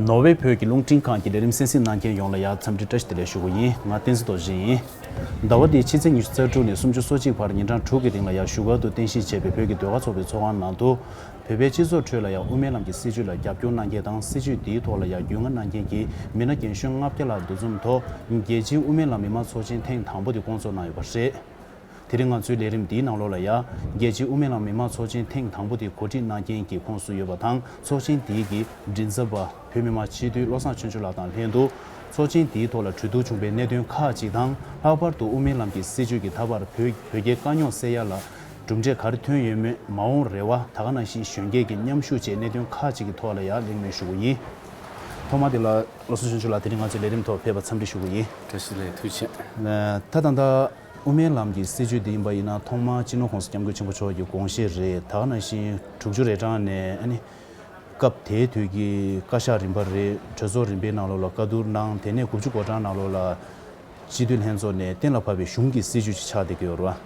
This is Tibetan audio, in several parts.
ནོར་ཝེ་བོད་ཀྱི་རླུང་འཕྲིན་ཁང་གི་ལས་རིམ་གསན་གཟིགས་གནང་མཁན་ཡོངས་ལ་ཡང་འཚམས་འདྲི་བཀྲ་ཤིས་བདེ་ལེགས་ཞུ་དགོས་ཡིན་ང་བསྟན་འཛིན་རྡོ་རྗེ་ཡིན། ཟླ་བ་འདིའི་ཕྱི་ཚེས་ཉི་ཤུ་རྩ་དྲུག་ནས་སུམ་ཅུ་སོ་གཅིག་བར་ཉིན་གྲངས་དྲུག་གི་རིང་ལ་ཡང་བཞུགས་སྒར་དུ་རྟེན་གཞི་བྱས་པའི་བོད་ཀྱི་ཟློས་གར་ཚོགས་པའི་ཚོགས་ཁང་ནང་དུ། བོད་པའི་སྤྱི་ཚོགས་ཁྲོད་ལ་ཡང་དབུ་མའི་ལམ་གྱི་སྲིད་བྱུས་ལ་རྒྱབ་སྐྱོར་གནང་མཁན་དང་སྲིད་བྱུས་དེའི་ཐོག་ལ་ཡང་རྒྱུས་མངའ་གནང་མཁན་གྱི་མི་སྣ་རྒན་གཞོན་ལྔ་བརྒྱ་ལྷག་འདུ་འཛོམས་ཐོག་རྒྱལ་སྤྱིའི་དབུ་མའི་ལམ་མི་མང་ཚོགས་ཆེན་ཐེངས་དང་པོ་དེ་སྐོང་ཚོགས་གནང་ཡོད་པ་རེད། དེ་རིང་ང་ཚོའི་ལས་རིམ་འདིའི་ནང་ལོ་ལ་ཡ། རྒྱལ་སྤྱིའི་དབུ་མའི་ལམ་མི་དམངས་ཚོགས་ཆེན་ཐེངས་དང་པོ་དེ་གོ་སྒྲིག་གནང་རྐྱེན་གྱི་ཁོངས་སུ་ཡོད་པ་དང་ཚོགས་ཆེན་དེའི་གི་མགྲིན་ཚབ་པ་བོད་མི་མང་སྤྱི་འཐུས་བློ་བཟང་ཆོས་འབྱོར་ལགས་དང་ལྷན་དུ། ཚོགས་ཆེན་དེའི་ཐོག་ལ་གྲོས་བསྡུར་བྱུང་པའི་གནད་དོན་ཁག་ཅིག་དང་ལྷག་པར་དུ་དབུ་མའི་ལམ་གྱི་སྲིད་བྱུས་ཀྱི་ད་བར་བོད་བོད་རྒྱའི་དཀའ་རྙོག་སེལ་ཡ་ལ་གྲུབ་འབྲས་ག་རེ་ཐོན་ཡོད་མེད་མ་འོངས་རེ་བ་ད་ག་ན་ཞིག་གཞོན་སྐྱེས་ཀྱི་མཉམ་ཞུགས་བཅས་གནད་དོན་ཁག་ཅིག་གི་ཐོག་ལ་ཡང་གླེང་མོལ་ཞུ་གི་ཡིན། ཐོག་མ་དེ་ལ་བློ་བཟང་ཆོས་འབྱོར་ལགས་དེ་རིང་ང་ཚོའི་ལས་རིམ་ཐོག་ཕེབས་པར་འཚམས་འདྲི་ཞུ་གི་ཡིན། བཀྲ་ཤིས་ལགས་ཐུགས་ཆེ། ད་ད་ད། དབུ་མའི་ལམ་གྱི་སྲིད་བྱུས་འདི་ཡིན་པ་ཡིན་ན་ཐོག་མར་སྤྱི་ནོར་ཁོང་ས་སྐྱབས་མགོན་ཆེན་པོ་མཆོག་གི་དགོངས་བཞེད་རེད་དག་ནང་བཞིན་དྲུག་ཅུ་རེ་གྲངས་ནས་ཨ་ནི། སྐབས་དེའི་དུས་ཀྱི་བཀའ་ཤག་རིམ་པ་རེ་གྲོས་ཚོགས་རིམ་པའི་ནང་ལོགས་ལ་བཀའ་བསྡུར་གནང་དེ་ནས་དགུ་བཅུ་གོ་གྲངས་ནང་ལོགས་ལ་སྤྱི་འཐུས་ལྷན་ཚོགས་ནས་གཏན་ལ་ཕབ་པའི་གཞུང་གི་སྲིད་བྱུས་ཅིག་ཆགས་བསྡད་ཀྱི་ཡོད་རེད།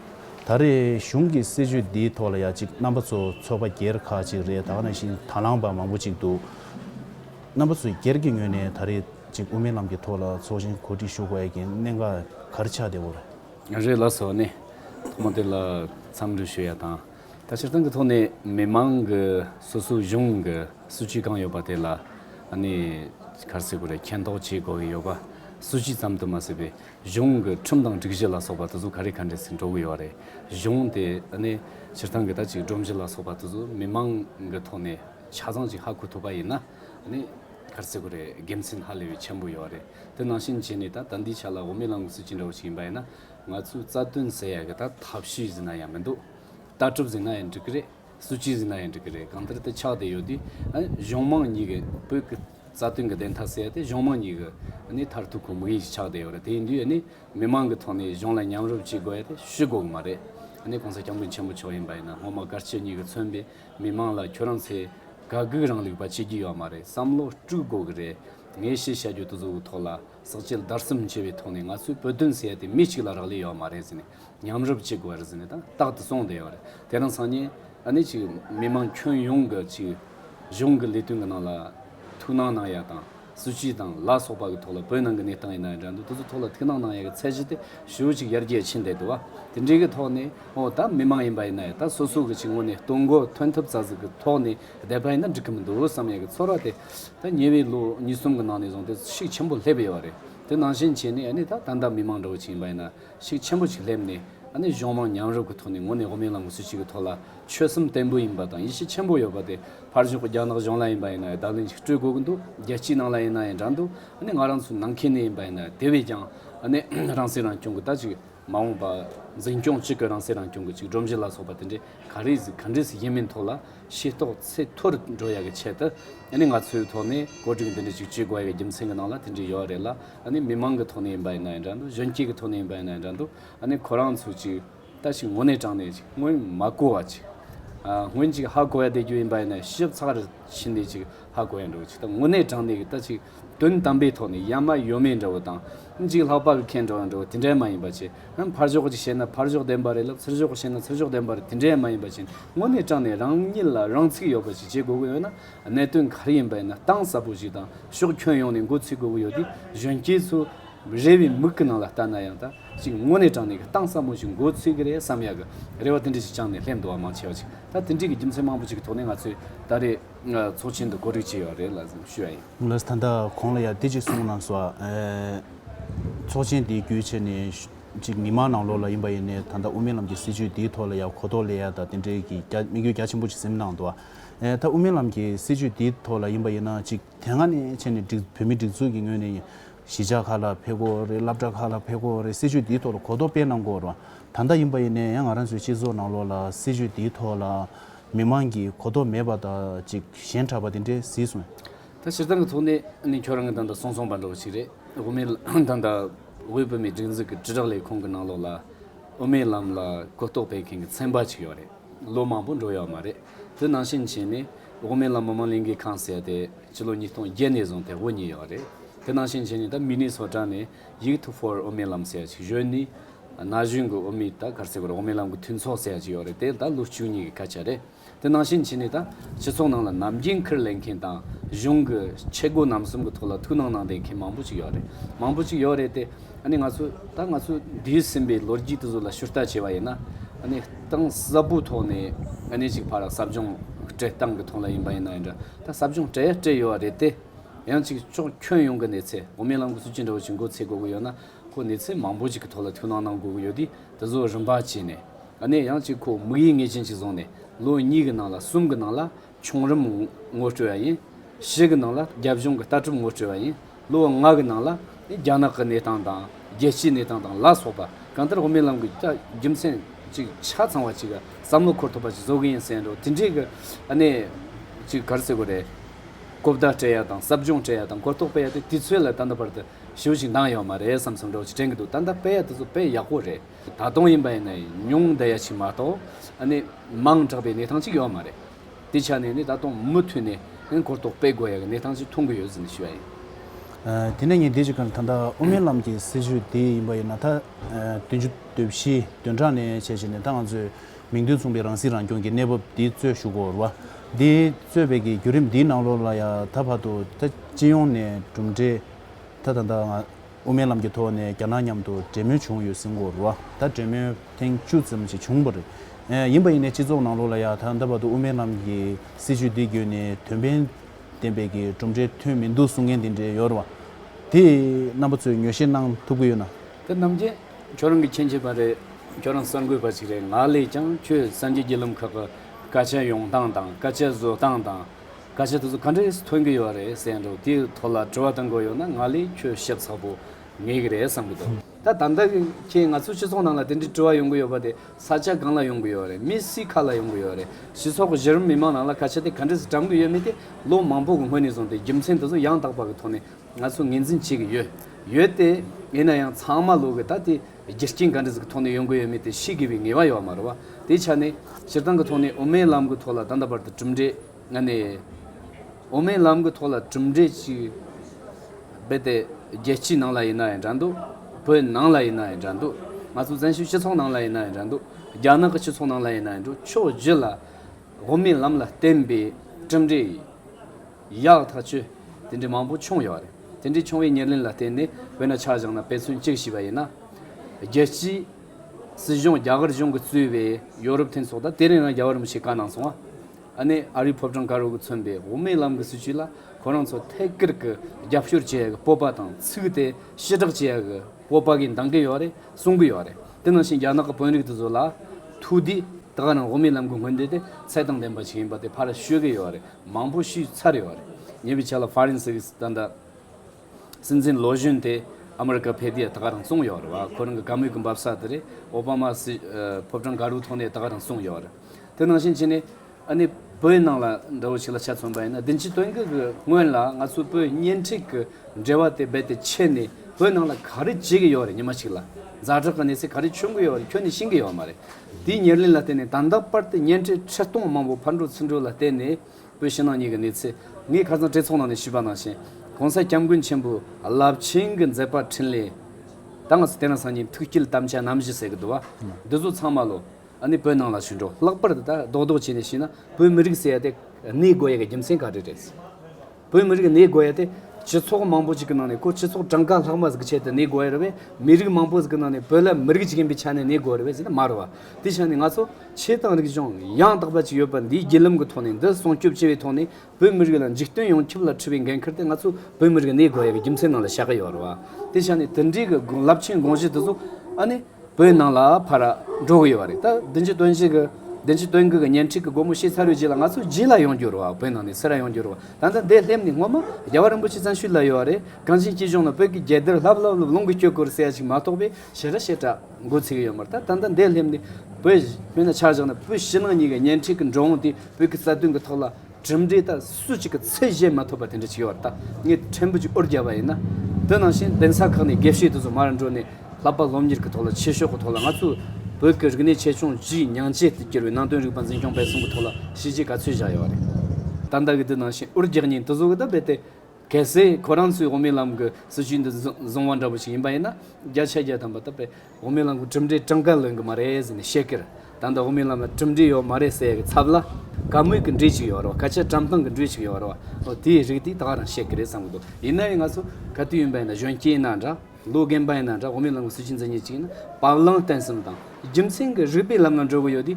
ད་རེས་གཞུང་གི་སྲིད་བྱུས་འདིའི་ཐོག་ལ་ཡ་གཅིག་རྣམ་པ་ཚོ་ཚོགས་པ་སྒེར་ཁག་ཅིག་རེད་དག་ནང་བཞིན་དང་བླངས་པ་མང་པོ་ཅིག་འདུག། རྣམ་པ་ཚོས་སྒེར་གྱི་ངོས་ནས་ད་རེས་ཅིག་དབུ་མའི་ལམ་གྱི་ཐོག་ལ་ཚོགས་ཆེན་གོ་སྒྲིག་ཞུ་དགོས་ཡ་གྱི་གནད་འགག་གར་ཆགས་བསྡད་འོར། རེད་ལགས་སོ་ནི་ཐོག་མ་དེ་ལ་འཚམས་འདྲི་ཞུ་ཡ་དང། ད་སྤྱིར་བཏང་གི་ཐོག་ནས་མི་མང་གི་སོ་སོའི་གཞུང་གི་སྲིད་བྱུས་གང་ཡོད་པ་དེ་ལ་ནི་གར་ཚིག་གོ་རེ་མཁྱེན་རྟོགས་བྱེད་དགོས་ཡ་ཡོད་པ། སྲིད་བྱུས་ཙམ་དུ་མ་ཟད་པའི་གཞུང་གི་ཁྲིམས་དང་སྒྲིག་གཞི་ལ་སོགས་པ་དེ་ཚོ་ག་རེ་ག་འདྲས་ཟིན་འགྲོ་གི་ཡོད་རེད་གཞུང་དེ་ནི་སྤྱིར་བཏང་གི་ད་ཅིག་སྒྲོམ་གཞི་ལ་སོགས་པ་དེ་ཚོ་མི་མང་གི་ཐོག་ནས། ཆ་ཚང་ཅིག་ཧ་གོ་ཐུབ་པ་ཡིན་ན་ནི། གར་རྩེད་གུ་རེ་དགེ་མཚན་ཧ་ལས་པའི་ཆེན་པོ་ཡོད་བ་རེད། དེ་ནང་བཞིན་བྱས་ནས་ད་ལྟ་འདིའི་ཆ་ལ་འོ་མའི་ལང་ཚོ་ཅི་འདྲ་བོ་ཞིག་ཡིན་པ་ཡིན་ན། ང་ཚོའི་རྩ་དོན་ཟེར་ཡག་གི་ད་ཐབས་ཤེས་ཟིན་ན་ཡང་མི་འདུག། ལྟ་གྲུབ་ཟིན་ན་ཡང་འགྲིག་གི་རེད། སྲིད་ཇུས་ཟིན་ན་ཡང་འགྲིག་གི་རེད་གང་ལྟར་དེ་ཆགས་བསྡད་ཡོད་དུས། གཞུང་དམངས་གཉིས་ཀྱི་བོད་ཀྱི་རྩ་དོན་གྱི་བདེན་མཐའ་གསལ་ཏེ་གཞུང་དམངས་གཉིས་ཀྱི་ནི་མཐར་ཐུག་གི་དམིགས་ཡུལ་ཞིག་ཆགས་བསྡད་ཡོད་རེད་དེ་ཡིན་དུས་ནི་མི་དམངས་ཀྱི་ཐོག་ནས་གཞུང་ལ་མཉམ་རུབ་བྱེད་དགོས་ཡ་དེ་ཤི་དགོས་གི་མ་རེད། ནི་གོང་ས་སྐྱབས་མགོན་ཆེན་པོ་མཆོག་ཡིན་པ་ཡིན་ན་སྔོན་མ་སྐར་ཆེན་གཉིས་ཀྱི་མཚོན་པའི་མི་མང་ལ་ཁྱོད་རང་ཚེ་ག་གིག་རང་ལེགས་པ་བྱེད་ཀྱི་ཡོད་མ་རེད་བསམ་བློ་བཀྲུས་དགོས་ཀྱི་རེད་ངས་ཤེས་བྱ་རྒྱུ་དེ་ཚོའི་ཐོག་ལ་ཟག་བཅས་བརྡར་གསུམ་བྱས་པའི་ཐོག་ནས་ང་ཚོའི་བོད་དོན་ཟེར་ཡ་དེ་མི་གཅིག་ལ་རག་ལས་ཡོད་མ་རེད་ཟེར་ནས་ཉམས་རབ་བྱེད་དགོས་པ་རེད་ཟེར་ནས་ད་རྟག་ཏུ་གསུངས་བསྡད་ཡོད་རེད་དེ་རང་སང་ཉིན་ཨ་ནེ་གཅིག་མི་མང་ཁྱོན་ཡོངས་ཀྱི་གཅིག་གཞུང་གི་ལས་དོན་གྱི་ནང་ལ་ཐུགས་སྣང་གནང་ཡ་དང། སུ་ཅི་དང་ལ་སོགས་པ་གི་ཐོག་ལ་བོད་ནང་གི་གནས་སྟངས་ཡིན་ནའང་འདྲ་འདུག་དེ་ཚོ་ཐོག་ལ་ཐིག་ནག་གནང་ཡ་གི་ཚད་གཞི་དེ་ཞུ་ཅིག་ཡར་རྒྱས་ཕྱིན་བསྡད་འདུག་བ་དེ་འདྲའི་གི་ཐོག་ནས་ཨོ་ད་མི་མང་ཡིན་པ་ཡིན་ན་ཡ་ད་སོ་སོ་གི་ཅིག་ངོ་ནས་གཏོང་སྒོ་ཐོན་ཐབས་ཙག་ཙིག་གི་ཐོག་ནས་བསྡད་པ་ཡིན་ན་འགྲིག་གི་མི་འདུག་བསམ་ཡ་གི་ཚོར་བ་དེ་ད་ཉེ་བའི་ལོ་གཉིས་གསུམ་གི་ནང་ནས་བཟུང་སྟེ་གཤིག་ཆེན་པོ་སླེབས་ཡོད་བ་རེད་དེ་ནང་བཞིན་བྱས་ནས་ཨ་ནི་ད་ད་ལྟ་མི་མང་འདྲ་བོ་ཅིག་ཡིན་པ་ཡིན་ན། ཤིག་ཆེན་པོ་ཞིག་སླེབས་ནས་ཨ་ནེ་གཞུང་དམངས་མཉམ་རུབ་ཀྱི་ཐོག་ནས་ངོ་ནས་དབུ་མའི་ལམ་གྱི་སྲིད་བྱུས་ཀྱི་ཐོག་ལ་ཆོད་སེམས་བརྟན་པོ་ཡིན་པ་དང་ཡིད་ཆེས་ཆེན་པོ་ཡོད་པ་དེ་ཕར་ཞོག་རྒྱ་ནག་གཞུང་ལ་ཡིན་པ་ཡིན་ན་ཡང་བརྡ་ལན་ཞིག་སྤྲོད་དགོས་ཀྱི་འདུག་རྒྱལ་སྤྱིའི་ནང་ལ་ཡིན་ན་ཡང་འདྲ་འདུག་ཨ་ནེ་ང་རང་ཚོའི་ནང་ཁྱིན་ནས་ཡིན་པ་ཡིན་ན་དེ་བས་ཀྱང་ཨ་ནེ་རང་སྲིད་རང་སྐྱོང་གི་ད་ཅིག་མ་འོངས་པ་འཛིན་སྐྱོང་གཅིག་གི་རང་སྲིད་རང་སྐྱོང་གི་ཅིག་སྒྲོམ་གཞི་ལ་སོགས་པ་དེ་འདྲའི་ག་རེ་གཟིགས་ག་འདྲའི་གཟིགས་ཡིན་མིན་ཐོག་ལ་ཤེས་རྟོགས་ཚད་མཐོ་རུ་འགྲོ་ཡག་གི་ཆེད་དུ་ཨ་ནེ་ང་ཚོའི་ཐོག་ནས་གོ་སྒྲིག་འདི་འདྲ་ཞིག་བྱེད་དགོས་ཡག་གི་རྒྱུ་མཚན་གྱི་ནང་ལ་དེ་འདྲ་ཡོད་རེད་ལ་ཨ་ནི་མི་མང་གི་ཐོག་ནས་ཡིན་པ་ཡིན་ན་ཡིན་དྲགས་འདུག་གཞོན་སྐྱེས་ཀྱི་ཐོག་ནས་ཡིན་པ་ཡིན་ན་ཡིན་དྲགས་འདུག་ཨ་ནི་ཁོ་རང་ཚོ་ཅིག་ལྟ་ཞིག་ངོ་ནས་དྲངས་ནས་ཅིག་སྔོན་མ་བསྐོ་བ་ཅིག་སྔོན་ཅིག་ཧ་གོ་ཡ་བསྡད་རྒྱུ་ཡིན་པ་ཡིན་ན་ཤི་ཚགས་རེ་ཕྱིན་ནས་ཅིག་ཧ་གོ་ཡ་འགྲོ་ཅིག་ལྟ་ངོ་ནས་དྲངས་ནས་ལྟ་ཅིག་དོན་དམ་པའི་ཐོག་ནས་ཡ་མ་ཡོད་མེད་འདྲ་བོ་དང་ཅིག་ལྷག་པར་མཁས་འགྲོ་ཡ་འགྲོ་དེ་འདྲས་མ་ཡིན་པ་ཆེ་ཨང་ཕར་ཞོག་ཅིག་བཤད་ན་ཕར་ཞོག་བདེན་པ་རེད་ལབ་ཚུར་ཞོག་བཤད་ན་ཚུར་ཞོག་བདེན་པ་རེད་དེ་འདྲས་མ་ཡིན་པ་ཆེ་ངོ་ནས་དྲངས་ནས་རང་ཉིད་ལ་རང་ཚིག་ཡོད་པ་ཅིག་བྱེད་དགོས་ཀྱི་ཡོད་ན་གནད་དོན་ག་རེ་ཡིན་པ་ཡིན་ན་གཏིང་ཟབ་པོ་ཞིག་དང་ཕྱོགས་ཁྱོན་ཡོངས་ནས་འགོ་ཚུགས་དགོས་ཀྱི་ཡོད་དེ་གཞོན་སྐྱེས་ཚོས་རེ་བའི་མིག་གི་ནང་ལ་ལྟ་ན་ཡང་དག་ཅིག་དངོས་གནས་དྲང་གནས་ཀྱི་གཏིང་ཟབ་མོ་ཞིག་འགོ་ཚུགས་ཀྱི་རེད་བསམ་ཡག་གི་རེ་བ་དེ་འདྲ་ཞིག་བཅངས་ནས་སླེབས་འདུག་བ་མང་ཆེ་བ་ཞིག་ད་དེ་འདྲིས་ཀྱི་རྒྱུ་མཚན་མང་པོ་ཞིག་གི་ཐོག་ནས་ང་ཚོས་ད་རེས་ཚོགས་ཆེན་དུ་གོ་སྒྲིག་བྱས་ཡོད་རེད་ལ་ཞུ་བ་ཡིན། ལོས་ད་ལྟ་གོང་ལ་ཡང་དེ་གཅིག་གསུངས་གནང་སོ། ཚོགས་ཆེན་དེའི་རྒྱུ་ཆེ་ནི་གཅིག་མི་མང་ནང་ལོགས་ལ་ཡིན་པ་ཡིན་ནས་ད་ལྟ་དབུ་མའི་ལམ་གྱི་སྲིད་བྱུས་དེའི་ཐོག་ལ་ཡང་གོ་རྟོགས་ལེན་ཡ་དང་དེ་འདྲའི་གི་རྒྱ་དམིགས་ཡུལ་རྒྱ་ཆེན་པོ་ཞིག་སེམས་ནང་དུ་བ། ཨེ། ད་དབུ་མའི་ལམ་གྱི་སྲིད་བྱུས་འདིའི་ཐོག་ལ་ཡིན་པ་ཡིན་ན་ཅིག་དེ་སྔ་ནས་ཕྱེ་ནས་སྒྲིག་བོད་མིའི་སྒྲིག་འཛུགས་ཀྱི་ངོས་ནས་ཡིན། གཞིས་ཆགས་ཁག་ལ་ཕེབས་སྐོར་རེད་སླབ་གྲྭ་ཁག་ལ་ཕེབས་སྐོར་རེད་སྲིད་བྱུས་འདིའི་ཐོག་ལ་གོ་རྟོགས་སྤེལ་གནང་སྐོར་རོ། ད་ལྟ་ཡིན་པ་ཡིན་ནས་ཡང་ང་རང་ཚོའི་སྤྱི་ཚོགས་ནང་ལོགས་ལ་སྲིད་བྱུས་འདིའི་ཐོག་ལ་མི་མང་གིས་གོ་རྟོགས་མེད་པ་དང་ཅིག་གཞན་དྲག་པ་དེ་འདྲས་བཟིས་སོང། ད་སྤྱིར་བཏང་གི་ཐོག་ནས་ནི་ཁྱོད་རང་གི་ད་ལྟ་སོང་སོང་བར་འགྲོ་བ་ཞིག་རེད་དབུ་མའི་ལམ་ད་ལྟ་དབུས་བོད་མིའི་སྒྲིག་འཛུགས་ཀྱི་དྲིལ་བསྒྲགས་ལས་ཁུངས་ཀྱི་ནང་ལོགས་ལ་དབུ་མའི་ལམ་ལ་གོ་རྟོགས་སྤེལ་མཁན་གྱི་ཚན་པ་ཅིག་ཡོད་རེད། ལོ་མང་པོ་འགྲོ་ཡག་མ་རེད་དེ་ནང་བཞིན་བྱས་ནས་དབུ་མའི་ལམ་མི་མང་གླིང་གའི་ཁང་བསལ་ཏེ་ཕྱི་ལོ་ཉིས་སྟོང་བརྒྱད་ནས་བཟུང་དེ་དབུ་བརྙེས་ཡག་རེད་དེ་ནང་བཞིན་བྱས་ནས་ད་མི་ནི་ཚོ་དྲག་ནས་ཡིག་ཐུག་ཕོར་དབུ་མའི་ལམ་བསལ་ཅིག་གཞོན་ནི་ན་གཞོན་གི་དབུ་མི་ད་གར་བསལ་དགོས་རེད་དབུ་མའི་ལམ་གི་མཐུན་ཚོགས་བསལ་ཅིག་ཡོག་རེད་དེ་ད་ལོ་བཅུ་གཉིས་གི་སྐད་ཆ་རེད་དེ་ནང་བཞིན་བྱས་ནས་ད་སྤྱི་ཚོགས་ནང་ལ་ནམ་རྒྱུན་ཁིར་ལེན་མཁན་དང་གཞུང་གི་ཆེ་དགུ་རྣམ་གསུམ་གི་ཐོག་ལ་ཐུགས་སྣང་གནང་བསྡད་མཁན་མང་པོ་ཅིག་ཡོག་རེད་མང་པོ་ཅིག་ཡོག་རེད་དེ། ཨ་ནི་ང་ཚོ་ད་ང་ཚོ་འདས་ཟིན་པའི་ལོ་རྒྱུས་དེ་ཚོ་ལ་ཞུ་ལྟ་བྱས་པ་ཡིན་ན་ཨ་ནི་གཏིང་ཟབ་པོའི་ཐོག་ནས་ཨ་ནི་ཅིག་བར་ཟབ་སྦྱོང་སྤྲད་སྟངས་ཀྱི་ཐོག་ལ་ཡིན་པ་ཡིན་ན་ཡིན་འདྲ་ད་ཟབ་སྦྱོང་སྤྲད་ཡ་སྤྲད་ཡོད་བ་རེད་དེ། ཡང་ཅིག་ཕྱོགས་ཁྱོན་ཡོངས་ཀྱི་གནས་ཚད་འོ་མའི་རླངས་འཁོར་སུ་ཅི་འདྲ་བོ་ཞིག་འགོ་ཚེ་དགོས་ཀྱི་ཡོད་ན་ཁོ་གནས་ཚད་མང་པོ་ཅིག་གི་ཐོག་ལ་ཐུགས་སྣང་གནང་དགོས་ཀྱི་ཡོད་དེ་དེ་ཚོ་རིམ་པ་བྱས་ནས་ཨ་ནི་ཡང་ཅིག་ཁོ་དམིགས་ཡུལ་ངེས་ཅན་ཅིག་བཟུང་ནས་ལོ་གཉིས་ཀྱི་ནང་ལ་གསུམ་གྱི་ནང་ལ་ཆུང་རིམ་ངོ་སྤྲོད་པ་ཡིན། བཞི་གི་ནང་ལ་རྒྱབ་ལྗོངས་ཀྱི་ལྟ་གྲུབ་ངོ་སྤྲོད་པ་ཡིན། ལོ་ལྔ་གི་ནང་ལ་རྒྱ་ནག་གི་གནས་སྟངས་དང་རྒྱལ་སྤྱིའི་གནས་སྟངས་དང་ལ་སོགས་པ་གང་ལྟར་རྨི་ལམ་གྱི་རྒྱུ་མཚན་ཅིག་ཆ་ཚང་བ་ཅིག་གི་བསམ་བློ་འཁོར་ཐུབ་པ་ཅིག་བཟོ་གི་ཡིན་གསལ་འགྲོ་དེ་འདྲའི་གི་གནས་ཅིག་གར་སེ་གོ་རེད། གོ་བརྡ་སྤྲད་ཡ་དང་ཟབ་སྦྱོང་སྤྲད་ཡ་དང་གོ་རྟོགས་སྤེལ་ཡ་དེ་དུས་ཚོད་ལ་ད་ལྟ་བར་དུ་ཞེའུ་ཞིག་འདང་ཡོད་མ་རེད་བསམ་བསམ་འགྲོ་བ་ཅིག་དྲན་གི་འདུག་ད་ལྟ་སྤེལ་ཡ་དེ་ཚོ་སྤེལ་ཡག་པོ་རེད། ད་དུང་ཡིན་པ་ཡིན་ན་ཡིན་ཉུང་འདི་ཡ་ཆི་མ་གཏོགས་ནི་མང་དྲགས་པའི་གནས་སྟངས་གཅིག་ཡོད་མ་རེད། དེ་ཆ་ནས་ནི་ད་དུང་མུ་མཐུད་ནས་ནི་གོ་རྟོགས་སྤེལ་དགོས་ཡག་གི་གནས་སྟངས་གཅིག་མཐོང་གི་ཡོད་ཟེར་ནས་ཞུས་པ་ཡིན། དེ་ནས་ངས་འདི་གཅིག་གམ་ད་ལྟ་དབུ་མའི་ལམ་གྱི་སྲིད་བྱུས་དེ་ཡིན་པ་ཡིན་ན་ད། བདུན་ཅུ་དོད་བཞི་བདུན་ཕྲག་ནས་བྱས་བྱས་ནས་ད་ང་ཚོས་མིང་དོན་མཚུངས་པའི་རང་སྲིད་རང་སྐྱོང་གི་གནས་བབས་འདི་གཙོས་ཞུ་སྒོར་བ་འདི་གཙོས་བས་ཀྱི་བརྒྱུད་རིམ་འདིའི་ནང་ལོགས་ལ་ཡང་ད་བར་དུ་ད་སྤྱི་ཡོངས་ནས་གྲུབ་འབྲས་ད་ད་ད་ང། དབུ་མའི་ལམ་གྱི་ཐོག་ནས་རྒྱ་ནག་མཉམ་དུ་འབྲེལ་མོལ་བྱུང་ཡོད་ཟིན་གོ་རོ། ད་འབྲེལ་མོལ་ཐེངས་བཅུ་ཙམ་ཞིག་བྱུང་བ་རེད། ཡིན་པ་ཡིན་ནའི་སྤྱི་ཚོགས་ནང་ལོགས་ལ་ཡ་ད་ལྟ་བར་དུ་དབུ་མའི་ལམ་གྱི་སྲིད་བྱུས་འདི་བརྒྱུད་ནས་དོན་ཕན་ལྡན་པའི་གི་གྲུབ་འབྲས་ཐོན་མི་འདུག་གསུང་མཁན་དེ་འདྲའི་ཡོད་རེད། དེ་རྣམ་པ་ཚོས་ཉོ་བཤད་གནང་ཐུབ་གི་ཡོད་ན། དེ་རྣམས་ཀྱིས་ཁྱོད་རང་གི་མཁྱེན་ཆེ་བ་རེད། ཁྱོད་རང་གསར་འགོད་པ་ཞིག་རེད་ང་ལས་ཀྱང་ཁྱོད་སངས་རྒྱས་རྒྱུད་ལམ་ཁག་གི་དཀའ་སྤྱད་ཡོང་སྟངས་དང་དཀའ་སྤྱད་བཟོ་སྟངས་དང། ཁ་ཤས་དེ་ཚོ་ག་འདྲས་ཐོན་གྱི་ཡོད་རེད་བསམ་འདུག་དེའི་ཐོག་ལ་དྲི་བ་དང་དགོས་ཡོད་ན་ང་ལས་ཁྱོད་ཞིབ་ཚགས་པོ་ངེས་ཀྱི་རེད་བསམ་གྱི་འདུག་ད་ད་ལྟ་ཁྱེད་ང་ཚོའི་སྤྱི་ཚོགས་ནང་ལ་དེ་འདྲའི་དྲི་བ་ཡོང་གི་ཡོད་པ་དེ་ས་ཆ་གང་ལ་ཡོང་གི་ཡོད་རེད་མི་སི་ག་ལ་ཡོང་གི་ཡོད་རེད་སྤྱི་ཚོགས་གཞི་རིམ་མི་མང་ནང་ལ་ཁ་ཤས་དེ་ག་འདྲས་དྲངས་གྱི་ཡོད་མེད་དེ་ལོ་མང་པོ་གི་སྔོན་ནས་བཟུང་སྟེ་རྒྱུ་མཚན་དེ་ཚོ་ཡང་དག་པ་གི་ཐོག་ནས་ང་ཚོ་ངེས་འཛིན་བྱེད་ཀྱི་ཡོད་ཡོད་དེ་ཡིན་ན་ཡང་ཚང་མ་ལོག་གི་ད་དེ་རྒྱུ་རྐྱེན་ག་འདྲས་གི་ཐོག་ནས་ཡོང་གི་ཡོད་མེད་དེ་ཤེས་དགོས་པའི་ངེས་བ་ཡོད་མ་རེད་བ་དེའི་ཆ་ནས་སྤྱིར་བཏང་གི་ཐོག་ནས་དབུ་མའི་ལམ་གི་ཐོག་ལ་ད་ལྟ་བར་དུ་གྲུབ་འབྲས། ང་ནི་འོ་མའི་ལམ་གྱི་ཐོག་ལ་གྲུབ་འབྲས་ཅིག་རྦད་དེ་རྒྱལ་སྤྱིའི་ནང་ལ་ཡིན་ན་ཡང་འདྲ་འདུག་བོད་ནང་ལ་ཡིན་ན་ཡང་འདྲ་འདུག་ང་ཚོ་བཙན་བྱོལ་སྤྱི་ཚོགས་ནང་ལ་ཡིན་ན་ཡང་འདྲ་འདུག་རྒྱ་ནག་གི་སྤྱི་ཚོགས་ནང་ལ་ཡིན་ན་ཡང་འདྲུག་ཕྱོགས་བཞི་ལ་འོ་མའི་ལམ་ལ་བརྟེན་པའི་གྲུབ་འབྲས་ཡག་ཐག་ཆོད་དེ་འདྲའི་མང་པོ་འཁྱོངས་ཡོད་རེད་དེ་འདྲའི་འཁྱོངས་བའི་ཉེར་ལེན་ལ་བརྟེན་ནས་བོད་ནང་ཆ་བཞག་ན་དཔེ་མཚོན་གཅིག་ཞིག་བ་ཡིན་ན། རྒྱལ་སྤྱིའི་སྲིད་གཞུང་རྒྱ་གར་གཞུང་གིས་གཙོས་པའི་ཡོ་རུབ་མཐུན་ཚོགས་དང་དེ་རིང་རང་རྒྱ་བར་མི་ཕྱེད་ཀ་ནང་སོང་བ། ཨ་ནེ་ཨ་རིའི་ཕོབ་གྲངས་ཀ་རོ་གུ་མཚོན་པའི་དབུ་མའི་ལམ་གྱི་སྲིད་བྱུས་ལ་ཁོ་རང་ཚོ་ཐད་ཀར་གྱི་རྒྱབ་སྐྱོར་བྱེད་ཡག་གི་སྤོབས་པ་དང་ཚིག་དེ་ཕྱི་བསྒྲགས་བྱེད་ཡག་གི་སྤོབས་པ་གིས་འདང་གི་ཡོད་རེད་གསུང་གི་ཡོད་རེད་དེ་ནང་བཞིན་རྒྱ་ནག་གི་དཔོན་རིགས་དེ་ཚོ་ལ་ཐུག་དུས་ད་ག་རང་དབུ་མའི་ལམ་གྱི་དགོན་སྡེ་དེ་ཚད་དང་ལྡན་པ་ཞིག་ཡིན་པ་དེ་ཕར་ཤོད་ཀྱི་ཡོད་རེད་མང་པོ་ཤོད་ཚར་ཡོད་རེད་ཉེ་བའི་ཆ་ལ་ཧྥ་རན་སི་གི་ཟླ་མདའ། སྲིད་འཛིན་ལོ་གཞོན་དེ་ཨ་མི་རི་ཀ་ཕེབས་དུས་ད་ག་རང་སོང་ཡོད་རེད་བ་ཁོ་རང་གི་དགའ་མོས་ཀྱི་འབབ་ས་དེ་རེད་ཨོ་བྷ་མ་སི་ཕོབ་གྲངས་ག་རུ་ཐོག་ནས་ད་ག་རང་སོང་ཡོད་རེད་དེ་ནང་བཞིན་བྱས་ནས་ཨ་ནི་བོད་ནང་ལ་འདྲ་བོ་ཞིག་ལ་ཆ་མཚོན་པ་ཡིན་ན་དེ་འཆི་དོན་གི་གི་སྔོན་ལ་ང་ཚོའི་བོད་གཉེན་སྒྲིག་གི་འབྲེལ་བ་དེ་རྦད་དེ་ཕྱེ་ནས་བོད་ནང་ལ་ག་རེ་བྱེད་གི་ཡོད་རེད་ཉི་མ་ཞིག་ལ་མཛའ་གྲགས་ཀྱི་གནས་ཚད་ག་རེ་མཆོང་གི་ཡོད་རེད་ཁྱོན་ནས་ཤེས་གི་ཡོད་མ་རེད་དེའི་ཉེར་ལེན་ལ་བརྟེན་ནས་ད་ལྟ་བར་དུ་གཉེན་སྒྲིག་ཁྲི་སྟོང་མང་བོ་ཕར་འགྲོ་ཚུར་འགྲོ་ལ་བརྟེན་ནས་པོའི་ཕྱི་ནང་གཉིས་ཀྱི་གནས་ཚད། ངས་ཁ་ཚང་སྤྲེལ་ཚོགས་ནང་ནས་ཞུས་པ་ནང་བཞིན། གོང་ས་སྐྱབས་མགོན་ཆེན་པོའི་རླབས་ཆེན་གྱི་མཛད་པ་འཕྲིན་ལས། ད་ང་ཚོ་དེ་རིང་སང་ཉིན་ཐུགས་སྐྱིལ་དམ་བཅའ་རྣམ་བཞི་ཟེར་གི་འདུག་བ། འདི་ཚོ་ཚང་མ་ལོ། ཨ་ནི་བོད་ནང་ལ་ཞུས་འགྲོ་ལྷག་པར་དུ་ད་རྡོག་རྡོག་བྱས་ནས་ཞུས་ན་བོད་མི་རིགས་ཟེར་ཡ་དེ་གནས་དགོས་ཡ་གི་རྒྱུ་མཚན་ག་རེ་རེད། བོད་མི་རིགས་གནས་དགོས་ཡ་དེ་སྤྱི་ཚོགས་མང་པོ་ཞིག་གི་ནང་ནས་ཁོ་སྤྱི་ཚོགས་གྲངས་ཀ་ལྷག་མ་ཟིག་གི་ཆེད་དུ་གནས་དགོས་ཡ་རེད་བས་མི་རིགས་མང་པོ་ཟིག་གི་ནང་ནས་བོད་ལ་མི་རིགས་ཤིག་ཡིན་པའི་ཆ་ནས་གནས་དགོས་རེད་བས་ཟེར་ན་མ་རེད་བ། དེའི་ཆ་ནས་ང་ཚོ། ཆོས་དང་རིག་གཞུང་ཡང་དག་པ་ཅིག་ཡོད་པ་འདིའི་རྒྱུད་ལམ་གྱི་ཐོག་ནས་འདི་སྲུང་སྐྱོབ་བྱེད་པའི་ཐོག་ནས་བོད་མི་རིགས་ལ་འཇིག་རྟེན་ཡོངས་ཁྱབ་ལ་འཁྲི་བའི་འགན་འཁུར་དེ་ང་ཚོ་བོད་མི་རིགས་གནས་དགོས་ཡག་གི་རྒྱུ་མཚན་ནང་ལ་བཞག་གི་ཡོད་རེད་བ། དེ་ཆ་ནས་དེ་འདྲའི་གི་དགོངས་རླབས་ཆེན་དགོངས་གཞི་དེ་ཚོ་ཨ་ནི་བོད་ནང་ལ་ཕར་ར་འགྲོ་གི་ཡོད་བ་རེད་ད་བདུན་ཅུ་དོན་བཞི་གི་བདུན་ཅུ་དོན་དགུ་གི་ཉེ་འཁྲིས་གི་སྒོ་མོ་ཕྱེ་ཚར་བའི་རྗེས་ལ་ང་ཚོ་རྗེས་ལ་ཡོང་རྒྱུ་རེད་བ་བོད་ནང་ནས་ཚེ་ར་ཡོང་རྒྱུ་རེད་བ་ད་ལྟ་འདས་སླེབས་ནས་སྔོན་མ་རྒྱལ་བ་རིན་པོ་ཆེ་བཙན་བྱོལ་ལ་ཡོད་བ་རེད་གངས་ཅན་སྐྱིད་གཞུང་ལ་བོད་ཀྱི་རྒྱལ་དར་ལྷབ་ལྷབ་ལྷབ་ལྷུང་གི་སྐྱོད་སྐོར་ཟེར་ཡ་ཞིག་མ་གཏོགས་པའི་བྱེད་ར་བྱེད་གྲ། མགོ་ཚིག་གི་ཡོད་མ་རྟགས་ད་ལྟ་འདས་སླེབས་ནས་བོད་དབེན་ན་ཆ་བཞག་ན་བོད་ཕྱི་ནང་གཉིས་ཀའི་གཉེན་འཕྲད་ཀྱི་འགྲོ་འོང་དེ་བོད་ཀྱི་རྩ་དོན་གྱི་ཐོག་ལ་གྲུབ་འབྲས་ལྟར་སུ་གཅིག་གི་ཚད་གཞལ་མ་ཐུབ་པ་དེ་འདྲ་བྱས་བ་རྟགས་ངས་ཕྲན་བུ་ཅིག་ཨོར་རྒྱབ་པ་ཡིན་ན། དེ་ནང་བཞིན་གདན་ས་ཁག་ནས་དགེ་བཤེས་དེ་ཚོ་མར་འགྲོ་ནས་ལྷག་པར་སློབ་གཉེར་གྱི་ཐོག་ལ་ཆེ་ཤོག་གི་ཐོག་ལ་ང་ཚོ་བོད་ཀྱི་རིག་གནས་ཆེད་སྦྱོང་སྤྱིའི་མྱང་བྱེད་དུ་གྱུར་བའི་ནང་དོན་རིག་པ་འཛིན་སྐྱོང་སྤེལ་གསུམ་གྱི་ཐོག་ལ་གཞི་གཅིག་ག་ཚོད་བཞག་ཡོད་བ་རེད། ད་ལྟ་གི་དུས་ནང་བཞིན་ཨོར་རྒྱག་ཉིན་དེ་ཚོ་ག་ད་རྦད་དེ། གལ་སྲིད་ཁོ་རང་ཚོའི་འོ་མའི་ལམ་གྱི་སྲིད་ཇུས་འདི་བཟང་བ་འདྲ་པོ་ཞིག་ཡིན་པ་ཡིན་ན། བརྒྱ་ཆ་བརྒྱ་ཐམ་པ་ད་པའི་འོ་མའི་ལམ་གྱི་གྲུབ་འབྲས་གྲངས་ཀ་ལོན་གྱི་མ་རེད་ཟེར་ནས་བཤད་ཁར། ད་ལྟ་འོ་མའི་ལམ་ལ་གྲུབ་འབྲས་ཡོད་མ་རེད་ཟེར་ཡ་གི་ཚབ་ལ། ག་མུས་ཀྱི་འབྲས་ཅིག་ཡོད་རེད་བ་ག་ཆད་གྲམ་ཐང་གི་འབྲས་ཅིག་ཡོད་རེད་བ། འོ་དེའི་རིགས་དེ་ད་ག་རང་བཤད་ཀྱི་རེད་བསམ་གྱི་འདུག་ཡིན་ནའི་ང་ཚོ་ག་དུས་ཡིན་པ་ཡིན་ན་གཞོན་སྐྱེས་ཡིན་ན་འདྲ། ལོ་རྒན་པ་ཡིན་ན་འདྲ་འོ་མའི་ལམ་གྱི་སྲིད་ཇུས་འཛིན་མཁན་ཅིག་ཡིན་ན་བབ་བླང་བརྟན་སྲུང་དང་རྒྱུ་མཚན་གྱི་རིགས་པའི་ལམ་ལ་འགྲོ་གི་ཡོད་དུས་